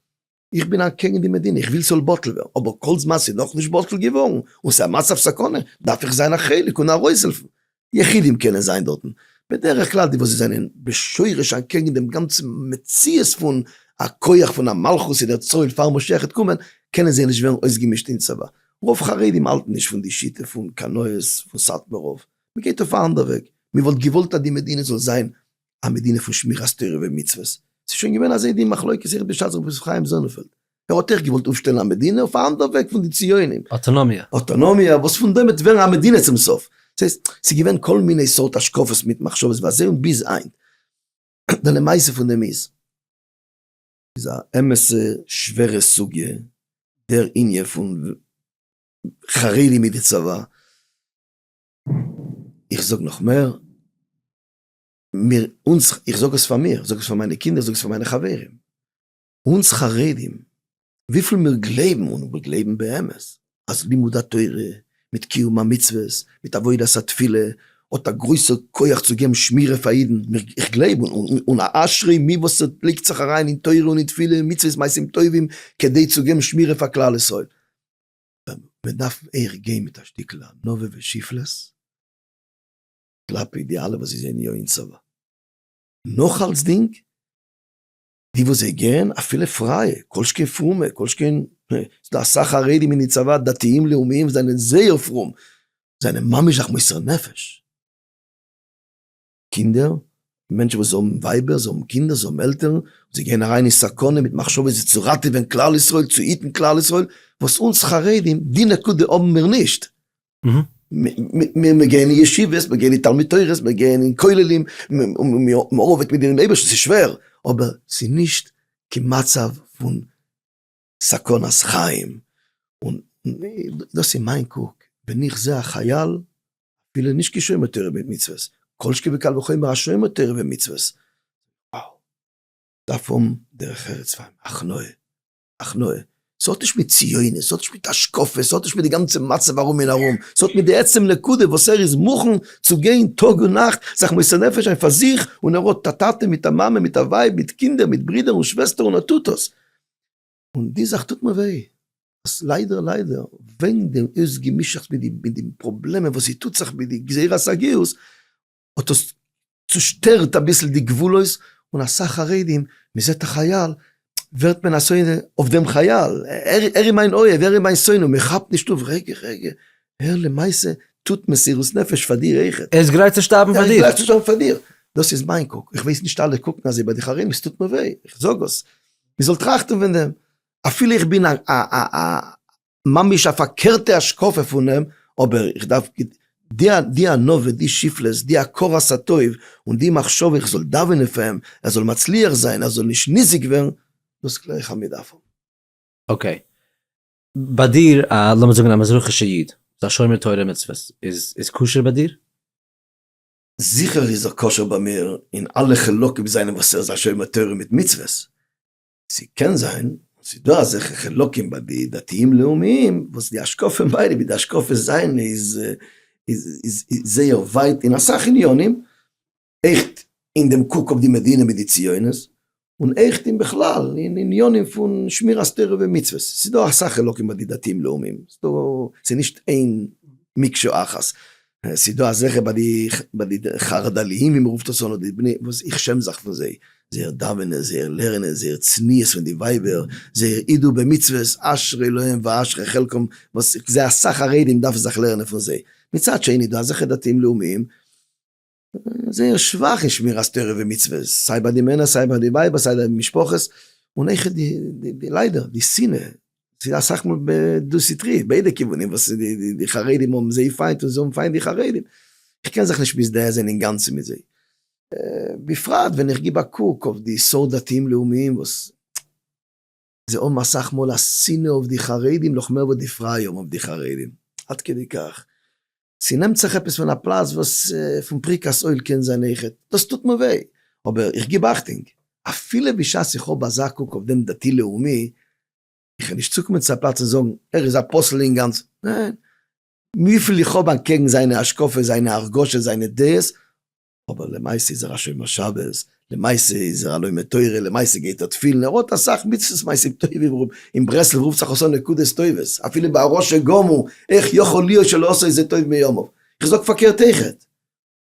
איך בין אקעגן די מדינה, איך וויל ס'זאל בטל ווערן, אבער כל זמן ס'איז נאכנישט בטל געווארן און ס'איז א מצב סכנה, דארף איך זיין א חלק און ארויסהעלפן, יחידים קענען זיין דארטן, בדרך כלל די וואס זענען בשורש אנטקעגן דעם גאנצן מציאות פון א כח פון א מלכות אין דער צאל פאר משיח העט קומען, קענען זיי נישט ווערן אויסגעמישט אין צבא. רוב חרדים האלטן נישט פון די שיטה פון קנאות פון סאטמאר רב, מען גייט אויף א אנדער וועג, מען וואלט געוואלט אז די מדינה זאל זיין א מדינה פון שמירת תורה ומצוות, ס'איז שוין געווען אזוי די מחלוקת, זכר בשעת ר' חיים זאנענפעלד, ער האט עכט געוואלט אויפשטעלן א מדינה אויף א אנדער וועג פון די ציונים. אוטונומיה. אוטונומיה, וואס פון דעם וועט ווערן א מדינה צום סוף. דאס הייסט, ס'איז געווען כל מיני סארט השקפות מיט מחשבות בזה און ביז היינט. די למעשה פון דעם איז. איז א אמת'ע שווערע סוגיא, דער ענין פון חרדים מיט די צבא. איך זאג נאך מער, מיר, אונז, איך זאג עס פאר מיר, איך זאג עס פאר מיינע קינדער, איך זאג עס פאר מיינע חברים. אונז חרדים, וויפיל מיר גלייבן און מיר גלייבן באמת אז לימוד התורה מיט קיום המצוות מיט עבודת התפילה האט א גרויסע כח צו געבן שמירה פאר אידן, איך גלייב און א אשרי מי וואס ער לייגט זיך אריין אין תורה און אין תפילה און מצוות מעשים טובים כדי צו געבן שמירה פאר כלל ישראל. מען דארף אייך גיין מיט א שטיקל ענווה ושפלות כלפי די אלע וואס זיי זענען יא אין צבא. נאך אלסדינג. די וואס זיי גערן אפילו פרייע, כל שכן פרומע, כל שכן ס'דא אסאך חרדים אין די צבא דתיים לאומיים וואס זענען זייער פרום, זענען ממש זיך מוסר נפש. קינדער, מענטשן וואס האבן ווייבער, זיי האבן קינדער, זיי האבן עלטערן, זיי גייען אריין אין סכנה מיט מחשבות זיך צו ראטעווען כלל ישראל, צו היטן כלל ישראל, וואס אונז חרדים, די נקודה האבן מיר נישט. מיר מיר גייען אין ישיבות, מיר גייען אין תלמוד תורה'ס, מיר גייען אין כוללים, מיר ארבעט מיט דעם אייבערשטן, ס'איז שווער, אבער ס'איז נישט קיין מצב פון סכנת חיים, און דאס איז מיין קוק, ווען איך זע א חייל, אפילו נישט קיין שומר תורה ומצוות, כל שכן וקל וחומר א שומר תורה ומצוות, וואו, דארף האבן דרך ארץ פאר אים, הכנעה. הכנעה. ס'האט נישט מיט ציונות, ס'האט נישט מיט השקפה, ס'האט נישט מיט די גאנצע מצב ארום און ארום, ס'האט מיט די עצם נקודה וואס ער איז מוכן צו גיין טאג און נאכט, זיך מוסר נפש זיין פאר זיך, און ער האט א טאטע מיט א מאמע מיט א ווייב מיט קינדער מיט ברידער און שוועסטער און ער טוט עס. און די זאך טוט מיר וויי, אז ליידער ליידער וועגן דעם אויסגעמישעכטס מיט די פראבלעמען וואס ס'טוט זיך מיט די גזירת הגיוס, האט דאס צושטערט אביסל די גבולות, און אסאך חרדים, מען זעט א חייל, ווערט מען א שונא אויף דעם חייל, ער איז מיין אוהב, ער איז מיין שונא, מען כאפט נישט אויף, רגע רגע, ער למעשה טוט מסירות נפש פאר דיר אויכעט. ער איז גרייט צו שטארבן פאר דיר. ער איז גרייט צו שטארבן פאר דיר. דאס איז מיין קוק, איך ווייס נישט אלע קוקן אזוי ביי די חרדים, עס טוט מיר וויי, איך זאג עס, מען זאל טראכטן פון דעם, אפילו איך בין א א א א ממש א פארקערטע השקפה פון אים, אבער איך דארף די ענווה, די שפלות, די הכרת הטוב, און די מחשבה איך זאל דאווענען פאר אים ער זאל מצליח זיין, ער זאל נישט ניזוק ווערן, דאס קלער איך אז מען דארף האבן. אקעי, ביי דיר א, לאמיר זאגן א מזרחי'שע איד, איז א שומר תורה ומצוות, איז כשר ביי דיר? זיכער איז ער כשר ביי מיר אין אלע חלקים זיינע וואס ער איז א שומר תורה מיט מצוות, ס'קען זיין און ס'איז דא אזעלכע חלקים ביי די דתיים לאומיים וואס די השקפה פון ביידע ווי די השקפה זיינע איז איז זייער ווייט אין אסאך עניינים, עכט אין דעם קוק אויף די מדינה מיט די ציונות, און עכט אין בכלל אין עניינים פון שמירת תורה ומצוות, ס'איז דא אסאך חלקים ביי די דתיים לאומיים, ס'איז נישט איין מקשה אחת. עס איז דא אזעלכע ביי די חרדליים ווי מען רופט עס אן אדער די בני וואס איך שעם זיך פון זיי, זייער דאווענען, זייער לערנען, זייער צניעות פון די ווייבער, זייער אידו במצוות, אשרי להם ואשרי חלקם, וואס איך זעה אסאך חרדים דארפן זיך לערנען פון זיי, מצד שני איז דא אזעלכע דתיים לאומיים, זייער שוואך אין שמירת תורה ומצוות, סיי ביי די מענער סיי ביי די ווייבער סיי די משפחות, און איך די די ליידער די שנאה, ס'איז אסאך מאל דו סטרי ביידע כיוונים וואס די חרדים האבן זיי פיינט און זיי האבן פיינט די חרדים, איך קען זיך נישט מזדהה זיין אינגאנצן מיט זיי, בפרט ווען איך גיב א קוק אויף די סארט דתיים לאומיים וואס. זיי האבן אסאך מאל א שנאה אויף די חרדים נאך מער וואס די פרייע האבן אויף די חרדים. עד כדי כך. ס'נעמט זיך עפעס פון א פלאץ וואס פון פריקת עול קען זיין איכעט. דאס טוט מיר וויי. אבער איך גיב אכטונג. אפילו בשעת איך האב אזא קוק אויף דעם דתי לאומי, איך וועל נישט צוקומען צו א פלאץ און זאגן, ער איז א פסול אינגאנצן. ניין. וויפיל איך האב אנטקעגן זיינע השקפות, זיינע הרגשות, זיינע דעות, אבער למעשה איז ער א שומר שבת, למעשה איז ער א לומד תורה, למעשה גייט ער תפילין, ער האט אסאך מצוות מעשים טובים, אין ברסלב רופט זיך עס אן נקודות טובות, אפילו ביי א רשע גמור, איך יכול להיות שלא עשה איזה טוב מימיו, איך זאג פארקערט אויכעט,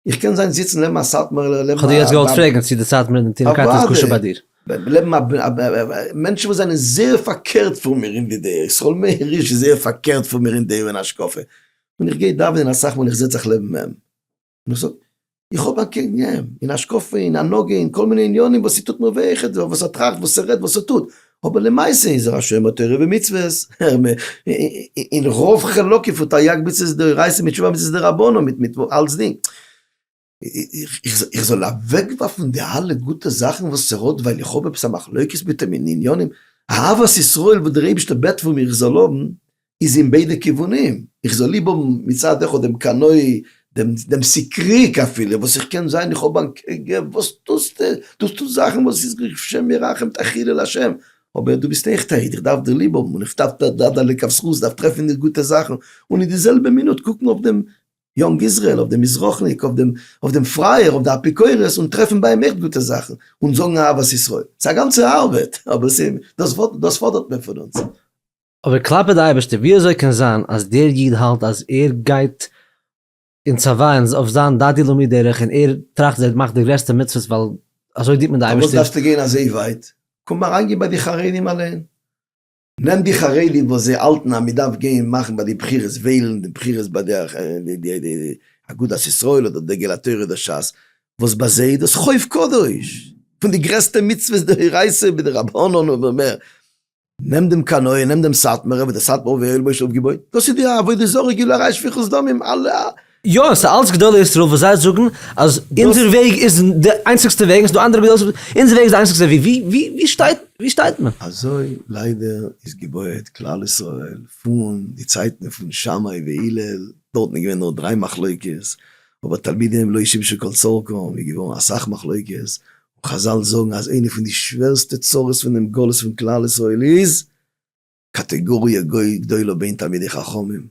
איך קען זיין זיצן לעבן א סאטמארער, לעבן א, כ'האב דיר יעצט געוואלט פרעגן צו די צייט מיט די תינוקות איז כשר ביי דיר. אוודאי, לעבן א א, מענטשן וואס זענען זייער פארקערט פון מיר אין די דעה, ישראל מאיר הירש איז זייער פארקערט פון מיר אין דעה און השקפה, און איך גיי דאווענען אסאך מאל איך זיץ זיך לעבן עם. און איך זאג, איך האב אקעגן אים, אין השקפה, אין הנהגה, אין כל מיני עניינים וואס ס'טוט מיר וויי, איך, וואס ער טראכט, וואס ער רעדט, וואס ער טוט, אבער למעשה איז ער א שומר תורה ומצוות, אין רוב חלקים פון תריג מצוות דאורייתא מיט תשובה מצוות דרבנן, מיט מיט אלצדינג, איך זאל אוועקווארפן די אלע גוטע זאכן וואס ער האט ווייל איך האב עפעס א מחלוקת מיט אים אין עניינים, אהבת ישראל וואס דער אייבערשטער בעט פון מיר איך זאל האבן, איז אין ביידע כיוונים, איך זאל ליב האבן מצד אחד דעם קנאי, דעם סיקריק אפילו, וואס איך קען זיין איך האב א קעגער, וואס טוסטע, דאס טוסט זאכן וואס איז געווען שם מרחם תחילה לשם, אבער דו ביסט עכט א איד, איך דארף דיר ליב האבן, און איך דארף דארף לכף זכות, דארף טרעפן אין דיר גוטע זאכן, און אין די זעלבע מינוט קוקן אויף דעם יונג איזרעאל, אויף דעם מזרחניק, אויף דעם פרייער, אויף די אפיקורס, און טרעפן ביי אים עכט גוטע זאכן, און זאגן אהבת ישראל. ס'איז א גאנצע ארבעט, אבער ס'איז, דאס פאדערט מען פון אונז. אבער כלפי די אייבערשטער, ווי אזוי קען זיין אז דער איד האלט אז ער גייט אין צבא און אויף זיין דדי למי' דרך און ער טראכט אז ער מאכט די גרעסטע מצוות ווייל אזוי דינט מען די אייבערשטער? פארוואס דארפסטו גיין אזוי ווייט? קום אריינגיין ביי די חרדים אליין. נעם די חרדים וואס זיי האלטן אז מען דארף גיין מאכן ביי די בחירות וועלן די בחירות ביי די אגודת ישראל אדער דגל התורה אדער שס, וואס ביי זיי איז דאס חוב קדוש, פון די גרעסטע מצוות דאורייתא און מדרבנן און מער. נעם דעם קנאי, נעם דעם סאטמארער, וואס דער סאטמאר רב הערל בויש האט אויפגעבויט, דאס איז די עבודה זרה, גילויי שפיכות דמים, אלע. יא, עס איז אלץ גדולי ישראל וואס זיי זאגן אז אונזער וועג איז די איינציגסטע וועג, און עס איז דא אנדערע גדולי ישראל, אונזער וועג איז די איינציגסטע וועג, ווי ווי ווי שטייט ווי שטייט מען? אזוי ליידער איז געבויעט כלל ישראל פון די צייטן פון שמאי והלל, דארטן איז געווען נאר דריי מחלוקות, אבער תלמידיהם לא השמישו כל צרכם, איז געווארן אסאך מחלוקות, חזל זאגן אז איינע פון די שווערסטע צרות פונעם גלות פון כלל ישראל איז קאטעגאריע גדולה בין תלמידי חכמים.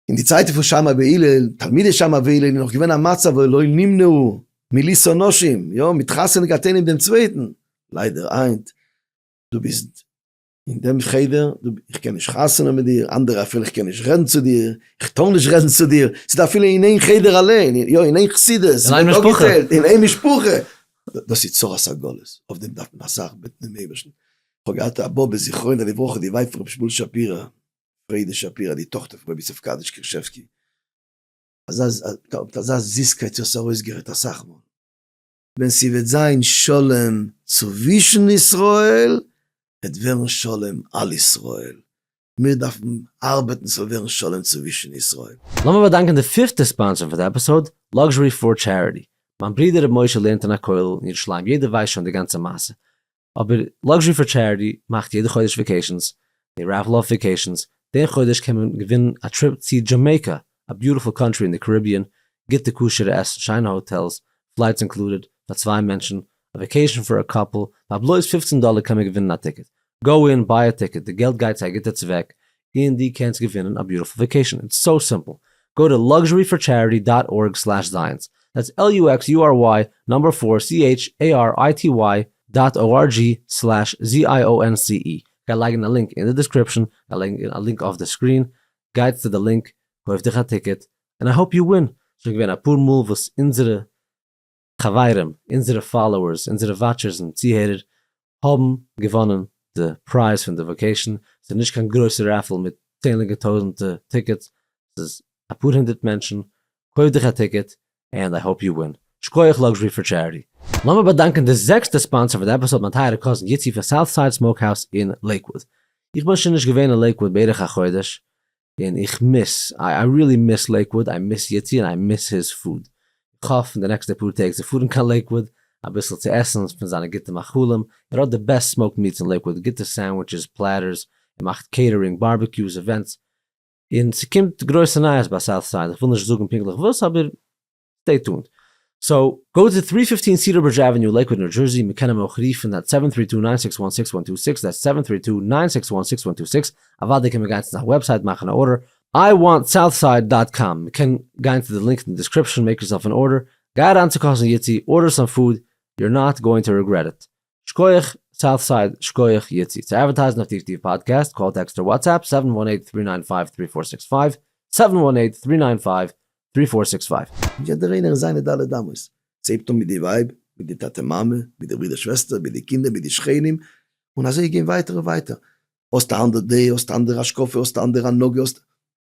אין די צייטן פון שמאי והלל, תלמידי שמאי והלל, איז נאך געווען א מצב ולא נמנעו מלישא נשים, יא, מתחתן געהאט איינעם דעם צווייטן, ליידער היינט דו ביסט. אין דעם חדר, דו, איך קען נישט חתונה מיט דיר, אנדערע אפילו איך קען נישט רעדן צו דיר, איך טאר נישט רעדן צו דיר, ס'איז דא אפילו אין איין חדר אליין, יא, אין איין חסידות, אין איין משפחה, אין איין משפחה, דאס איז צרת הגלות, אויף דעם דארף מען א סאך בעטן דעם אייבערשטן, איך האב געהאט א באבע זכרונה לברכה די ווייב פון רבי שמואל שפירא, פרידא שפירא, די טאכטער פון רבי יוסף קאדיש קרישבסקי, אזא, מיט אזא זיסקייט זי האט עס ארויסגערעדט אסאך מאל. ווען ס'וועט זיין שלום צווישן ישראל וועט ווערן שלום על ישראל, מיר דארפן ארבעטן ס'זאל ווערן שלום צווישן ישראל. לאמיר באדאנקען די פיפטע ספאנסער פון די עפיסאוד, Luxury פאר טשעריטי. מיין ברודער ר' משה לערנט אין א כולל אין ירושלים, יעדער ווייסט שוין די גאנצע מעשה. אבער Luxury for Charity מאכט יעדע חודש וועקעישאנס, זיי רעפל אף וועקעישאנס, די חודש קען מען געווינען א טריפ צי דזשאמעיקא, א ביוטיפול קאנטרי אין די קאריביען, גוטע כשר'ע עסן, שיינע האטעלס, פלייטס אינקלודעד, פאר צוויי מענטשן, א וועקעישאן פאר א קאפל, פאר בלויז פופצן דאלער קען מען געווינען א טיקעט, גאו אין, ביי א טיקעט, די געלט גייט צו א גוטע צוועק, און די קענסט געווינען א ביוטיפול וועקעישן איטס סאו סימפל גאו טו לאקזשערי פאר טשעריטי דאט ארג סלעש זייענס דעטס על יו עקס יו אר וויי נומבער פאר סי עיטש עי אר איי טי וויי דאט או אר ג'י סלעש זי איי או ען סי אי גיי לייגן א לינק אין די דיסקריפשן גיי לייגן א לינק אויף די סקרין גייטס צו די לינק קויף דיך א טיקעט און איי האופ יו ווין שוין געווען אפאר מאל וואס אונזערע חברים, אונזערע פאלאוערס, אונזערע וואטשערס און צוהערער האבן געוואנען די פרייז פון די וואקעישאן, ס'איז נישט קיין גרויסע רעפעל מיט צענליגע טויזענטע טיקעטס, ס'איז אפאר הונדערט מענטשן, קויף דיך א טיקעט ענד איי האופ יו ווין. שקויעך לאקזשרי פאר טשעריטי. לאמיר באדאנקען די זעקסטע ספאנסער פאר די עפיסאד מיין טייערע קאזין איצי פון סאוט סייד סמאוק האוז אין לעיקוואוד. איך בין שוין נישט געווען אין לעיקוואוד בערך א חודש, און איך מיס, איי ריעלי מיס לעיקוואוד, איי מיס יצי און איי מיס היז פוד. איך האף אין די נעקסטע פאר טעג צו פארן קיין לעיקוואוד אביסל צו עסן פון זיינע גוטע מאכלים, ער האט די בעסט סמאוקד מיטס אין לעיקוואוד, גוטע סענדוויטשעס, פלעטערס, ער מאכט קעיטערינג, בארביקיוס, עווענטס, און ס'קומט גרויסע נייעס ביי סאוטסייד, איך וויל נישט זאגן פונקטליך וואס אבער סטעי טונד. סאו, גאו טו טרי פיפטין סידער ברידזש עוועניו לעיקוואד ניו דזשערסי, מען קען אים אויך רופן עט סעווען טרי טו ניין סיקס וואן סיקס וואן טו סיקס, דעטס סעווען טרי טו ניין סיקס וואן סיקס וואן טו סיקס, אוודאי קען מען גיין צו זיין וועבסייט מאכן א ארדער, איי וואנט סאוטסייד דאט קאם, מען קען גיין צו די לינק אין די דעסקריפשאן, מעיק יורסעלף ען ארדער, גיי אריין צו קאזין יוטי, ארדער סאם פוד, יור נאט גאוינג טו רעגרעט איט, שקויעך סאוט סייד שקויעך יצי צו אדווערטייזן אויף טיף טיף פאדקעסט, קאל טעקסט אר וואטסעפפ סעווען וואן עיט טרי ניין פייוו טרי פאר סיקס פייוו, סעווען וואן עיט טרי ניין פייוו טרי פאר סיקס פייוו. יעדער איינער אין זיינע ד' אמות, ס'הייבט אן מיט די ווייב, מיט די טאטע מאמע, מיט די ברודער שוועסטער, מיט די קינדער, מיט די שכנים, און אזוי גיין ווייטער און ווייטער, האסט א אנדער דעה, האסט א אנדערע השקפה, האסט א אנדערע הנהגה, האסט,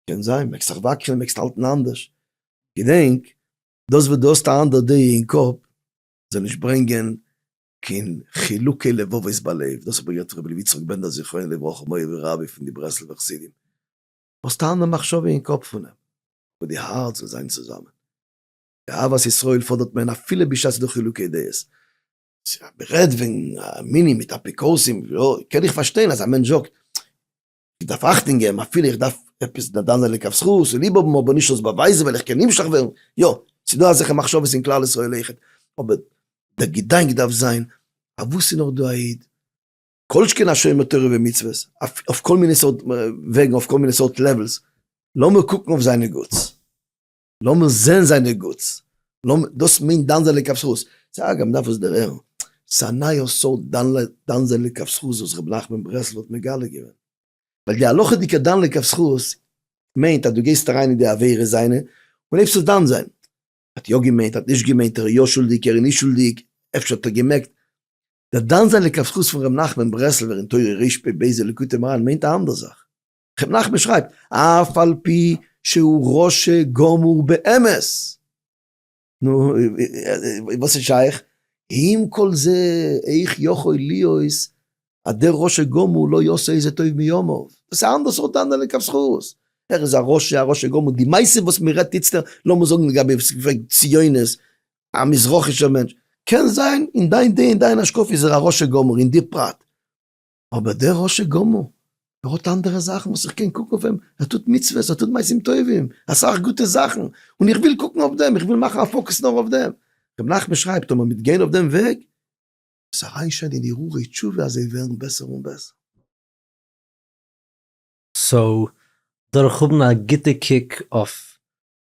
קען זיין, מעגסט זיך וואקלען, מעגסט האלטן אנדערש, געדענק, דאס וואס דו האסט א אנדער דעה אין קאפ, זאל נישט ברענגען קיין חילוקי לבבות בלב, דאס האט מיר גערעדט רבי לוי יצחק בענדער זכרונו לברכה מורי ורבי פון די ברסלב'ע חסידים, וואס טאן די מחשבה אין קאפ פונעם, אבער די הארץ זאל זיין צוזאמען, די אהבת ישראל פאדערט מען אפילו בשעת ס'דא חילוקי דעות, אז מ'רעדט וועגן א מנין מיט אפיקורסים, קען איך פארשטיין אז א מענטש זאגט, איך דארף אכטונג געבן אפילו איך דארף עפעס די אדם זיין לכף זכות און ליב האבן אבער נישט אלס באווייזן ווייל איך קען נמשך ווערן, יא, ס'איז דא אזעלכע מחשבות אין כלל ישראל אויכעט, אבער דער געדאנק דארף זיין אויף וואס איז נאך דא א איד, כל שכן א שומר תורה ומצוות, אויף כל מיני סארט וועגן, אויף כל מיני סארט לעוועלס, לאמיר קוקן אויף זיינע גוטס. לאמיר זעהן זיינע גוטס. לאמיר, דאס מיינט דן זיין לכף זכות. ס'איז אגב, מ'דארף עס דערהערן. ס'איז א נייער סארט דן ל, דן זיין לכף זכות וואס ר' נחמן ברסלב האט מגלה געווען. ווייל די הלכה'דיגע דן לכף זכות מיינט אז דו גייסט אריין אין די עבירות זיינע און הייבסט עס דן זיין. האט יא געמיינט, האט נישט געמיינט, ער איז יא שולדיג, ער איז נישט שולדיג, אפשר האט ער געמעקט. דער דן זיין לכף זכות פון ר' נחמן ברסלב'ער אין תורה רש פ בעזה ליקוטי מוהר ן מיינט א אנדער זאך. ר' נחמן שרייבט, אף על פי שהוא רשע גמור באמת. נו, וואס איז שייך? עם כל זה, איך יכול להיות אז דער רשע גמור לא יעשה איזה טוב מימיו. דאס איז א אנדערע סארט דן לכף זכות. ער איז א רשע, א רשע גמור. די מעשה וואס מען רעדט איצטער, לאמיר זאגן לגבי וואס איז געווען ציונות, א מזרחי'שער מענטש. קען זיין אין דיין דעה, אין דיין השקפה איז ער א רשע גמור אין די פרט. אבער דער רשע גמור, ער האט אנדערע זאכן וואס איך קען קוקן אויף אים, ער טוט מצוות, ער טוט מעשים טובים, אסאך גוטע זאכן, און איך וויל קוקן אויף דעם, איך וויל מאכן א פאוקעס נאר אויף דעם. ר' נחמן שרייבט, טאמער מ'וועט גיין אויף דעם וועג, עס אריינשען אין הרהורי תשובה אז זיי ווערן בעסער און בעסער. סאו, דורך האבן א גוטע קוק אויף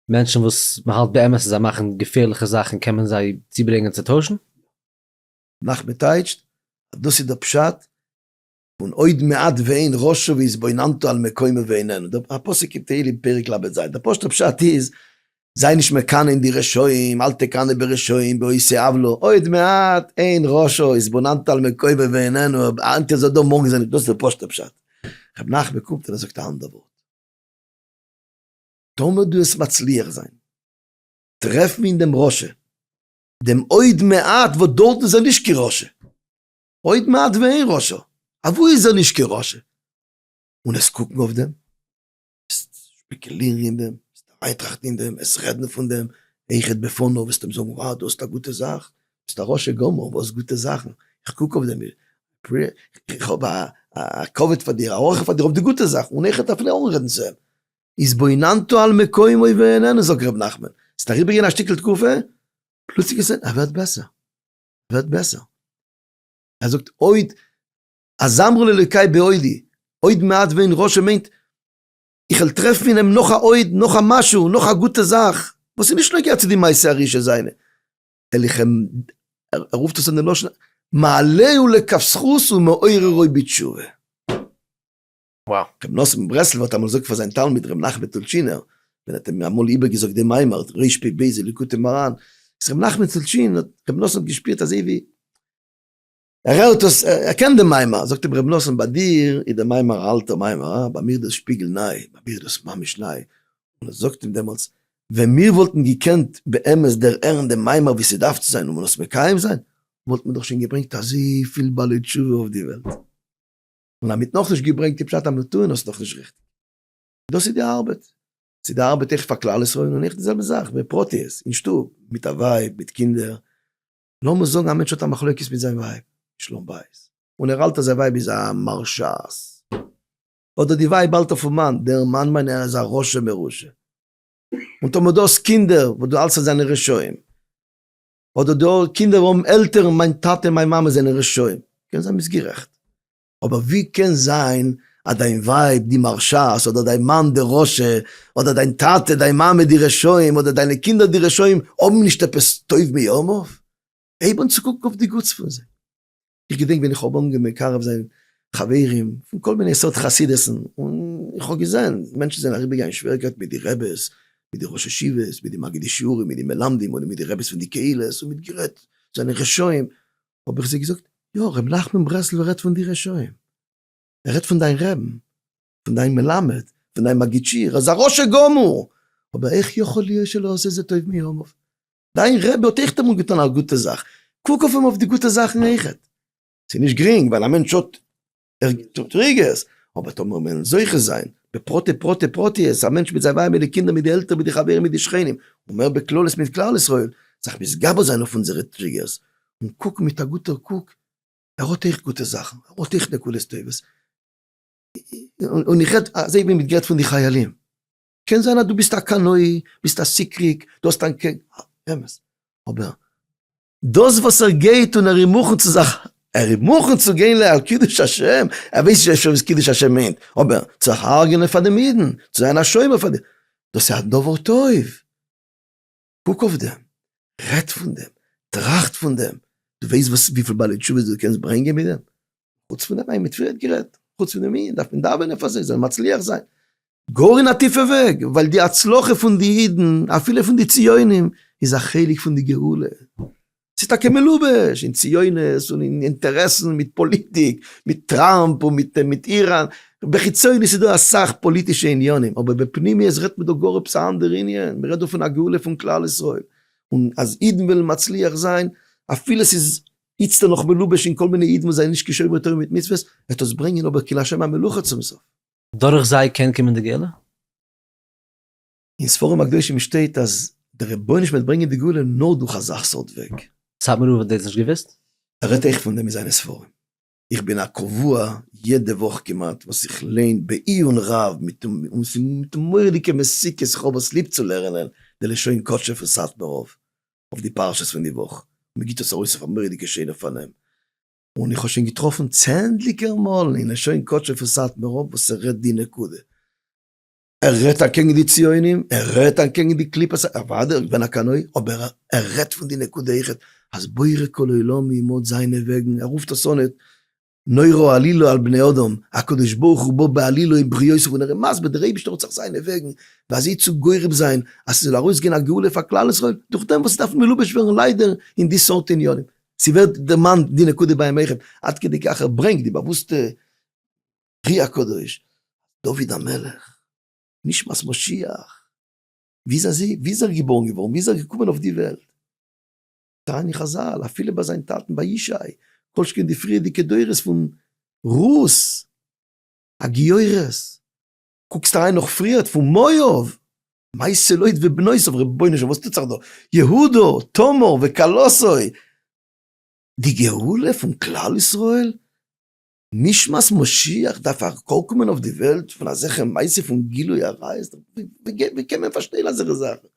מענטשן וואס מ'האלט באמת אז זיי מאכן געפערליכע זאכן קען מען זיי צוברענגען צו טוישן? נחמן טייטשט אז דאס איז דער פשט פון עוד מעט ואין ראשו והתבוננתו על מקומו ואיננו, דער פסוק אין תהלים פרק ל ז, דער פשוט'ער פשט איז, זיי נישט מקנא אין די רשעים, אל תקנא ברשעים בעושי עוולה, עוד מעט אין ראשו התבוננתו על מקומו ואיננו, היינט איז ער דא מארגן איז ער נישט דא, דאס איז דער פשוט'ער פשט. ר' נחמן קומט און ער זאגט א אנדער ווארט. טאמער דו וועסט מצליח זיין טרעפן אין דעם רשע דעם עוד מעט וואס דארטן איז ער נישט קיין רשע. עוד מעט ואין רשע. אוואו איז ער נישט קיין רשע? און עס קוקן אויף דעם, עס שפעקעלירן אין דעם, עס אריינטראכטן אין דעם, עס רעדן פון דעם, היכת בפניו, וועסט אים זאגן וואו דו האסט א גוטע זאך, ביסט א רשע גמור, וואס גוטע זאכן? איך קוק אויף דעם, איך האב א כבוד פאר דיר, א הערכה פאר דיר אויף די גוטע זאכן, און היכת אפילו אנרעדן צו אים. התבוננתו על מקומו ואיננו, זאגט ר' נחמן, ס'איז אריבער געווען א שטיקל תקופה, פלוצלינג איז ער ווערט בעסער, ווערט בעסער, ער זאגט עוד אזמרו לאלוקי בעודי, עוד מעט ואין רשע מיינט איך וועל טרעפן אין אים נאך א עוד, נאך א משהו, נאך א גוטע זאך, וואס איז נישט נוגע צו די מעשה הראשון זיינע, אליכם, ער רופט עס אין די לשון מעלהו לכף זכות ומעוררו בתשובה. וואו. רבי נאסן מברסלב האט אמאל געזאגט פאר זיין תלמיד רבי נחמן טולטשינער, ווען ער האט אים אמאל איבערגעזאגט דעם מימר ר' פ ב ז ליקוטי מוהר ן, איז רבי נחמן טולטשין האט רבי נאסן האט געשפירט אזוי ווי ער הערט דאס ער קען דעם מימר, זאגט אים רבי נאסן ביי דיר איז דער מימר א אלטער מימר הא, ביי מיר איז דאס שפיגל ניי, ביי מיר איז דאס ממש ניי, און ער זאגט אים דעמאלטס, ווען מיר וואלטן געקענט באמת דערהערן דעם מימר ווי ס'דארף צו זיין און מען עס מקיים זיין, וואלטן מיר דאך שוין געברענגט אזויפיל בעלי תשובה אויף די וועלט. און אז מ'האט נאכנישט געברענגט די פשט המתון האסט נאכנישט ריכטיג. דאס איז די ארבעט. ס'איז די ארבעט איך פאר כלל ישראל און איך די זעלבע זאך בפרטיות אין שטוב מיט א ווייב מיט קינדער. לאמיר זאגן א מענטש האט א מחלוקת מיט זיין ווייב, שלום בית, און ער האלט אז זיין ווייב איז א מרשעת, אדער די ווייב האלט אויפן מאן, דער מאן מיין איך איז א רשע מרושע, און טאמער דו האסט קינדער וואס דו האלטסט אז זיי זענען רשעים, אדער די קינדער האבן עלטערן, מיין טאטע און מיין מאמע זענען רשעים, קען זיין ביסט גערעכט, אבער ווי קען זיין אז דיין ווייב די מרשעת, אדער דיין מאן די רשע, אדער דיין טאטע דיין מאמע די רשעים, אדער דיינע קינדער די רשעים, האבן נישט עפעס טוב מימיו? הייב אן צו קוקן אויף די גוטס פון זיי. איך געדענק ווען איך האב אנגעהויבן מקרב זיין חברים פון כל מיני סארט חסידות'ן, און איך האב געזען מענטשן זענען אריבער געגאנגען שוועריקייטן מיט די רעבעס, מיט די ראש ישיבות, מיט די מגידי שיעורים, מיט די מלמדים, אדער מיט די רעבעס פון די קהילות, און מיט גערעדט זענען רשעים, האב איך זיי געזאגט, יא, ר' נחמן ברסלב'ער רעדט פון די רשעים, ער רעדט פון דיין רעבן, פון דיין מלמד, פון דיין מגיד שיעור, ער איז א רשע גמור, אבער איך יכול להיות שלא עשה זה טוב מימיו. דיין רבי האט אויכט אמאל געטון א גוטע זאך, קוק אויף אים אויף די גוטע זאכן אויכעט. ס'איז נישט גרינג ווייל א מענטש האט טריגערס, אבער טאמער מיר וועלן זוכה זיין בפרטי פרטי פרטיות, א מענטש מיט זיין ווייב מיט די קינדער מיט די עלטערן מיט די חברים מיט די שכנים, און מער בכללות מיט כלל ישראל, זיך מתגבר זיין אויף אונזערע טריגערס, און קוקן מיט א גוטער קוק, ער האט אויכט גוטע זאכן, ער האט אויכט נקודות טובות. און איך רעד אזוי ווי מ'האט גערעדט פון די חיילים. קען זיין אז דו ביסט א קנאי, ביסט א סיקריק, דו האסט אנ ק, אמת, אבער דאס וואס ער גייט און ער איז מוכן צו זיך, ער איז מוכן צו גיין ל ע על קידוש השם, ער ווייסט נישט אפשר וואס קידוש השם מיינט, אבער צו הרג'ענען פאר דעם אידן, צו זיין א שומר פאר דעם, דאס איז א דבר טוב. קוק אויף דעם, רעד פון דעם, טראכט פון דעם, דו ווייסט וואס וויפיל בעלי תשובות דו קענסט ברענגען מיט דעם? חוץ פון דעם, מיט וועם האט גערעדט? חוץ פון דעם איד דארף מען דאווענען פאר זיי זאלן מצליח זיין, גאר אין א טיפע וועג, ווייל די הצלחה פון די אידן, אפילו פון די ציונים, איז א חלק פון די גאולה. ס'איז טאקע מלובש אין ציונות און אין אינטערעסן מיט פאליטיק, מיט טראמפ און מיט איראן, בחיצוניות איז דא אסאך פאליטישע עניינים, אבער בפנימיות רעדט מען דא גאר עפעס א אנדערע עניין, מ'רעדט דא פון א גאולה פון כלל ישראל, און אז אידן וועלן מצליח זיין, אפילו ס'איז איצטער נאך מלובש אין כל מיני אידן וואס זענען נישט כשומרי תורה מיט מצוות, וועט עס ברענגען אבער כי לה' המלוכה צום סוף. דורך זיי קען קומען די גאולה? אין ספרים הקדושים שטייט אז דער רבונו של עולם וועט ברענגען די גאולה נאר דורך אזא סארט וועג. סאטמאר רב האט דאס נישט געוואוסט? ער רעדט אויך פון דעם אין זיינע ספרים. איך בין א קבוע יעדע וואך כמעט וואס איך ליין בעיון רב מיט און ס'מיט מורא'דיגע מסיקות איך האב עס ליב צו לערענען די לשון קדשו פון סאטמאר רב אויף די פרשות פון די וואך און מ'גיבט עס ארויס אויף א מורא'דיגע שענער פארנעם און איך האב שוין געטראפן צענדליגער מאלן אין לשון קדשו פון סאטמאר רב וואס ער רעדט די נקודה. ער רעדט אקעגן די ציונים, ער רעדט אקעגן די קליפות, אוודאי איך בין א קנאי, אבער ער רעדט פון די נקודה איכות אז בורא כל עולמים האט זיינע וועגן, ער רופט עס אן את נורא עלילא על בני אדם, הקדוש ברוך הוא בא בעלילא אין בריותיו און ער איז מסביר דער אייבישטער האט זיך זיינע וועגן ואזוי צו גורם זיין אז ס'זאל ארויסגיין א גאולה פאר כלל ישראל דורך דעם וואס ס'דארף מלובש ווערן ליידער אין די סארט עניינים. ס'ווערט דערמאנט די נקודה ביים איכה עד כדי כך ער ברענגט די באוואוסטע. רי הקדוש, דוד המלך, נשמת משיח, ווי איז אזי, ווי איז ער געבוירן געווארן, ווי איז ער געקומען אויף די וועלט, טענה'ן חזל, אפילו ביי זיין טאטן ביי ישי, כל שכן די פריערדיגע דורות פון רות הגיורת, קוקסט אריין נאך פריערט פון מואב, מייסע לוט ובנותיו, רבונו של עולם וואס טוט זיך דא, יהודה, תמר וכלתו, די גאולה פון כלל ישראל, נשמת משיח דארף ארקומען אויף די וועלט פון אזעלכע מעשה פון גילוי עריות? ווי קען מען פארשטיין אזעלכע זאכן?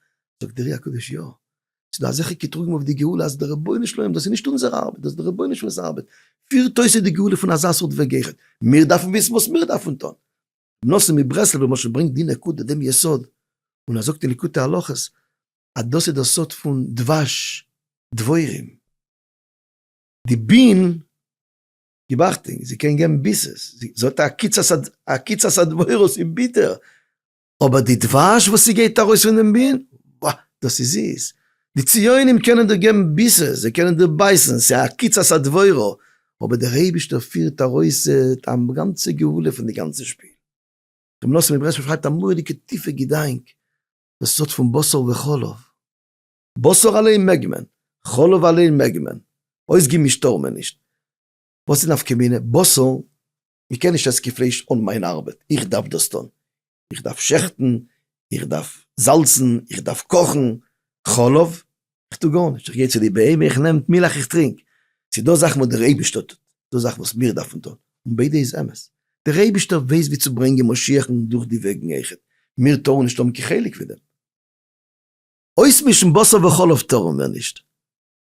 זאגט דער רי הקדוש יא, ס'איז דא אזעלכע קטרוגים אויף די גאולה אז דער רבונו של עולם, דאס איז נישט אונזער ארבעט, דאס איז דער רבונו של עולם'ס ארבעט, פירט אויס אט די גאולה פון אזא סארט וועג גערעכט, מיר דארפן וויסן וואס מיר דארפן טון. רבי נאסן מברסלב למשל ברענגט די נקודה, דעם יסוד, און ער זאגט אין ליקוטי הלכות אז דאס איז דער סוד פון דבש, דבורים, די בין. גיבאכטונג זי קען געבן ביסעס זי האט א עקיצת הדברות איז ביטער אבער די דבש וואס זי געבט ארויס פון דעם בין ווא דאס איז זיס די ציונים קענען דיר געבן ביסעס זיי קענען דיר בייסן ס'איז א עקיצת הדברו אבער דער אייבישטער פירט ארויס א גאנצע גאולה פון די גאנצע שפיל. רבי מנשה מברסלב שרייבט א מורא'דיגע טיפע געדאנק וואס האט פון בשר וחלב. בשר אליין מעג מען, חלב אליין מעג מען, אויסגעמישט טאר מען נישט. וואס איז נפקא מינה? בשר, מען קען נישט עסן קיין פלייש אן מיין ארבעט, איך דארף דאס טון, איך דארף שעכטן, איך דארף זאלצן, איך דארף קאכן, חלב, איך טו גארנישט, איך גיי צו די בהמה, איך נעם מילך איך טרינק, ס'איז דא זאכן וואס דער אייבערשטער טוט, דא זאכן וואס מיר דארפן טון, און ביידע איז אמת. דער אייבערשטער ווייסט ווי צו ברענגען משיח'ן דורך די וועגן, מיר טארן נישט האבן קיין חלק פון דעם. אויסמישן בשר וחלב טארן מיר נישט,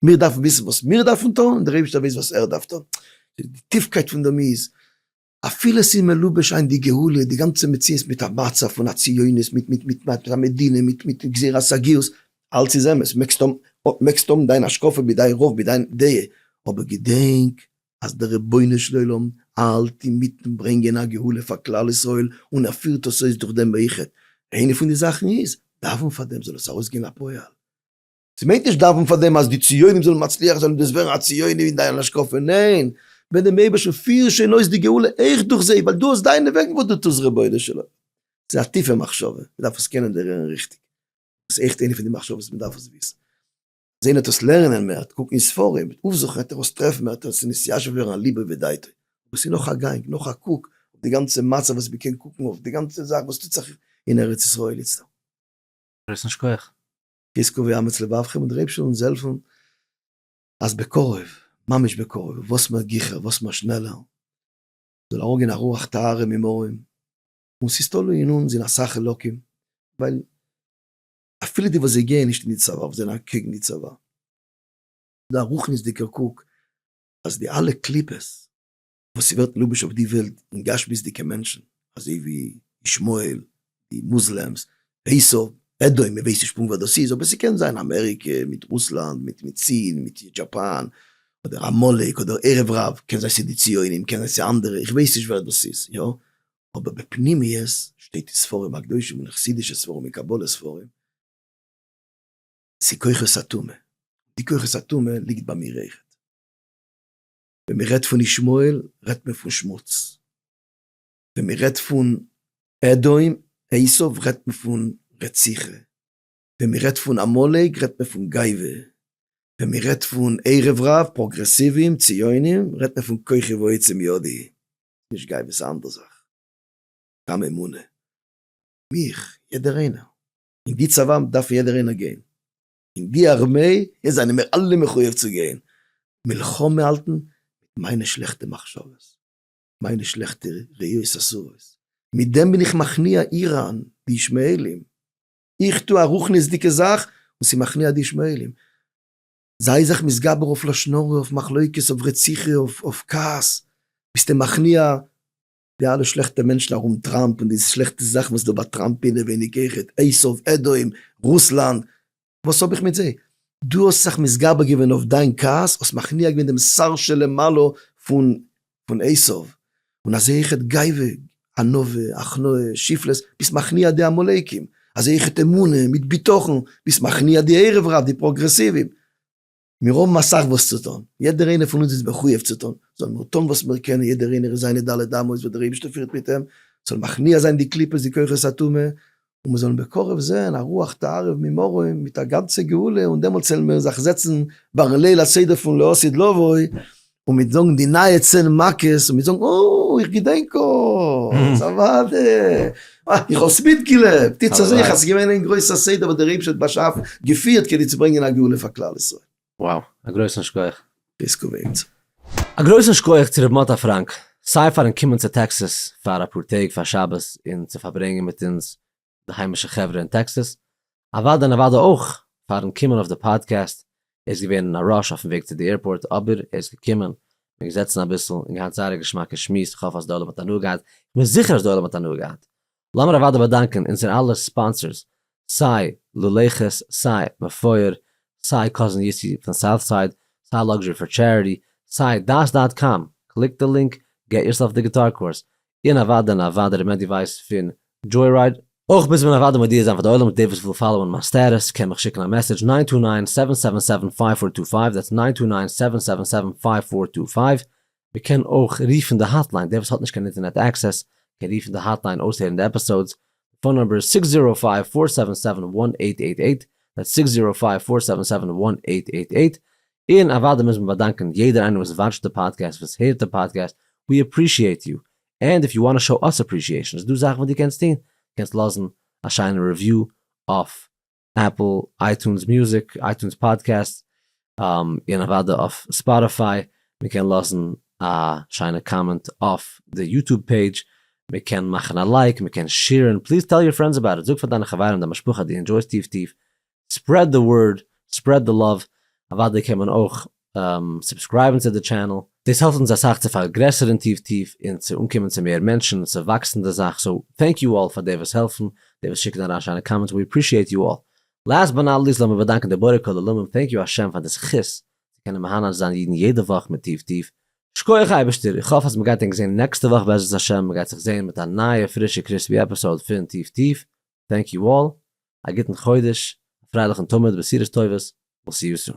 מיר דארפן וויסן וואס מיר דארפן טון און דער אייבערשטער ווייסט וואס ער דארף טון. די טיפקייט פון דעם איז, אפילו עס איז מלובש היינט די גאולה, די גאנצע מציאות מיט א מצב פון א ציונות מיט מיט מיט מיט א מדינה מיט מיט גזירת הגיוס, אלץ איז אמת, מעגסט האבן מעגסט האבן דיין השקפה מיט דיין רוב מיט דיין דעה, אבער געדענק אז דער רבונו של עולם האלט אינמיטן ברענגען א גאולה פאר כלל ישראל און ער פירט עס אויס דורך דעם איחוד, איינע פון די זאכן איז דאווען פאר דעם זאל עס ארויסגיין לפועל, ס'מיינט נישט דאווען פאר דעם אז די ציונים זאלן מצליח זיין און דאס ווערן א ציוני אין דיין השקפה, ניין, בעט דעם אייבערשטן פיר שוין אויס די גאולה אויך דורך זיי ווייל דו האסט דיינע וועגן וואס דו טוסט רבונו של עולם, ס'איז א טיפע מחשבה, מ'דארף עס קענען דערהערן ריכטיג, דאס איז עכט איינע פון די מחשבות וואס מ'דארף עס וויסן. זען ער טוס לערנען מער, ט קוקן אין ספרים, ט אופזוכן עט ער אויס טרעפן מער, ט אויס נתיישב ווערן אל ליבו ודעתו. דאס איז נאך א גאנג, נאך א קוק אויף די גאנצע מצב וואס מ'קען קוקן אויף די גאנצע זאך וואס טוט זיך אין ארץ ישראל איצטער. גרויסן שכח. חזקו ואמץ לבבכם און דער אייבשטער זאל אונז העלפן אז בקרוב, ממש בקרוב, וואס מער גיכער, וואס מער שנעלער, זאל אראפגיין א רוח טהרה ממרום, און ס'איז תלוי אין אונז אין אסאך חלקים, ווייל אפילו די וואס זיי גייען נישט אין די צבא אבער זענען אקעגן די צבא, דא א רוחניות'דיגער קוק אז די אלע קליפות וואס ס'ווערט מלובש אויף די וועלט אין גשמיות'דיגע מענטשן אזוי ווי ישמעאל, די מוזלעמס, עשיו, עדוי, מ'ווייסט נישט פונקט ווער דאס איז אבער ס'קען זיין אמעריקע מיט רוסלאנד מיט מיט סין מיט דזשאפאן אדער עמלק אדער ערב רב, קען זיין ס'די ציונים קען זיין ס'אנדערע איך ווייס נישט ווער דאס איז יא, אבער בפנימיות שטייט אין ספרים הקדושים און אין חסידישע ספרים און קבלה ספרים צו כוחות הטומאה, די כוחות הטומאה ליגט ביי מיר אויכעט. ווען מען רעדט פון ישמעאל רעדט מען פון שמוץ, ווען מען רעדט פון אדום עשיו רעדט מען פון רציחה, ווען מען רעדט פון עמלק רעדט מען פון גייווע, ווען מען רעדט פון ערב רב, פראגרעסיווים, ציונים, רעדט מען פון כוחי ועוצם ידי, נישט גיי וואס אנדער זאך, סתם אמונה, מיך, יעדער איינער, אין די צבא דארף יעדער איינער גיין, אין די ארמעי זענען מיר אלע מחויב צו גיין מלחמה האלטן מיט מיינע שלעכטע מחשבות, מיינע שלעכטע ראיות אסורות, מיט דעם בין איך מכניע איראן, די ישמעאלים, איך טו א רוחניות'דיגע זאך און ס'מכניע די ישמעאלים, זיי זיך מתגבר אויף לשון הרע, אויף מחלוקת, אויף רציחה, אויף כעס, ביסטו מכניע די אלע שלעכטע מענטשן ארום טראמפ און די שלעכטע זאכן וואס איז דא ביי טראמפ אינעווייניג אויכעט, עשיו אדום, רוסלאנד, וואס האב איך מיט זיי? דו האסט זיך מתגבר געווען אויף דיין כעס, האסט מכניע געווען דעם שר שלמעלה פון פון עשיו, און אזוי אויך את גייווע, ענווה, הכנעה, שפלות, ביסט מכניע די עמלקים, אזוי אויך את אמונה, מיט ביטחון, ביסט מכניע די ערב רב, די פראגרעסיוון. מיר האבן אסאך וואס צו טון, יעדער איינער פון אונז איז מחויב צו טון, זאלן מיר טון וואס מיר קענען, יעדער איינער אין זיינע ד' אמות וואס דער אייבערשטער פירט מיט אים, זאל מכניע זיין די קליפות די כוחות הטומאה, און מיר זאלן בקרוב זען א רוח תערב ממרום מיט א גאנצע גאולה, און דעמאלטס וועלן מיר זיך זעצן ביין ליל הסדר פון לא עשית לבוי, און מיט זאגן די נייע צען מכות, און מיט זאגן אוי איך געדענק אוי ס'אוואדע, איך האב עס מיטגעלעבט, איצט זעה איך אז ס'איז געווען איין גרויסע סדר וואס דער אייבערשטער האט באשאפן, געפירט, כדי צו ברענגען א גאולה פאר כלל ישראל. וואו! א גרויסן שקויעך! פיסקוביץ. א גרויסן שקויעך צו ר' מאטא פראנק, סיי פארן קומען צו טעקסעס פאר אפאר טעג פאר שבת און צו פארברענגען מיט אונז די היימישע חברה אין טעקסעס, אוואדע און אוואדע אויך פארן קומען אויף די פאדקעסט, ער איז געווען אין א ראש אויפן וועג צו די עירפארט אבער ער איז געקומען, מיר געזעצן אביסל און געהאט זייער א געשמאקע שמועס, כ'האף אז די עולם האט הנאה געהאט, כ'בין זיכער אז די עולם האט הנאה געהאט, לאמיר אוודאי באדאנקען אונזער אלע ספאנסערס, סיי לולי ח'ס, סיי מפואר, סיי קאזין יוסי פון סאוט סייד, סיי לאקזשערי פאר טשעריטי, סיי דעת דאט קאם, קליק די לינק, געט יורסעלף די גיטאר קורס, און אוודאי און אוודאי ר' מענדי ווייס פון דזשוירייד. אויך מוז מען אוודאי מודיע זיין פאר די עולם אז דער וואס וויל פאלאוען מיין סטעטוס קען מיך שיקן א מעסעדזש ניין טו ניין, סעווען סעווען סעווען, פייוו פאר טו פייוו, דעטס ניין טו ניין, סעווען סעווען סעווען, פייוו פאר טו פייוו, מען קען אויך רופן די האטליין, דער וואס האט נישט קיין אינטערנעט עקסעס קען רופן די האטליין אויסהערן די עפיסאודס, די פאון נומבער איז זיקס זירא פייוו פאר סעווען סעווען וואן עיט עיט עיט, דעטס זיק זירא פייוו פאר סעווען סעווען וואן עיט עיט עיט, און אוודאי מוז מען באדאנקען יעדער איינער וואס וואטשט די פאדקעסט וואס הערט די פאדקעסט, ווי עפרישיעט יו, ענד איף יו וואנט טו שאו אס עפרישיעשן איז דא זאכן וואס דו קענסט טון, דו קענסט לאזן א שיינע רעוויו אויף עפל, אייטונס מוזיק, אייטונס פאדקעסט, און אוודאי אויף ספאטיפיי, מען קען לאזן א שיינע קאמענט אויף די יוטוב פעידזש, מען קען מאכן א לייק, מען קען שעירן, פליז טעל יור פרענדס אבאוט איט, זאג פאר דיינע חברים דיין משפחה אז דו ענדשויסט טיף טיף, ספרעד די ווארד, ספרעד די לאוו, אוודאי קען מען אויך סובסקרייבן צו די טשענעל, דאס העלפט אונז אסאך צו פארגרעסערן טיוו טיוו און צו אנקומען צו מער מענטשן און צו וואקסן די זאך, סאו טענק יו אלל פאר די וואס העלפן, די וואס שיקן אריין שיינע קאמענטס, ווי אפרישיעט יו אלל. לאסט באט נאט ליסט לאמיר באדאנקען די בורא כל עולמים, טענק יו השם פאר די זכות צו קענען מהנה זיין אידן יעדע וואך מיט טיוו טיוו, שקויעך אייבערשטער, איך האף אז מען גייט ענק זען נעקסטע וואך בעזרת השם, מען גייט זיך זען מיט א נייע פרישע קריספי עפיסאוד פון טיוו טיוו, טענק יו אלל, א גוטן חודש, א פרייליכן תמיד, בשורות טובות, וויל סי יו סון.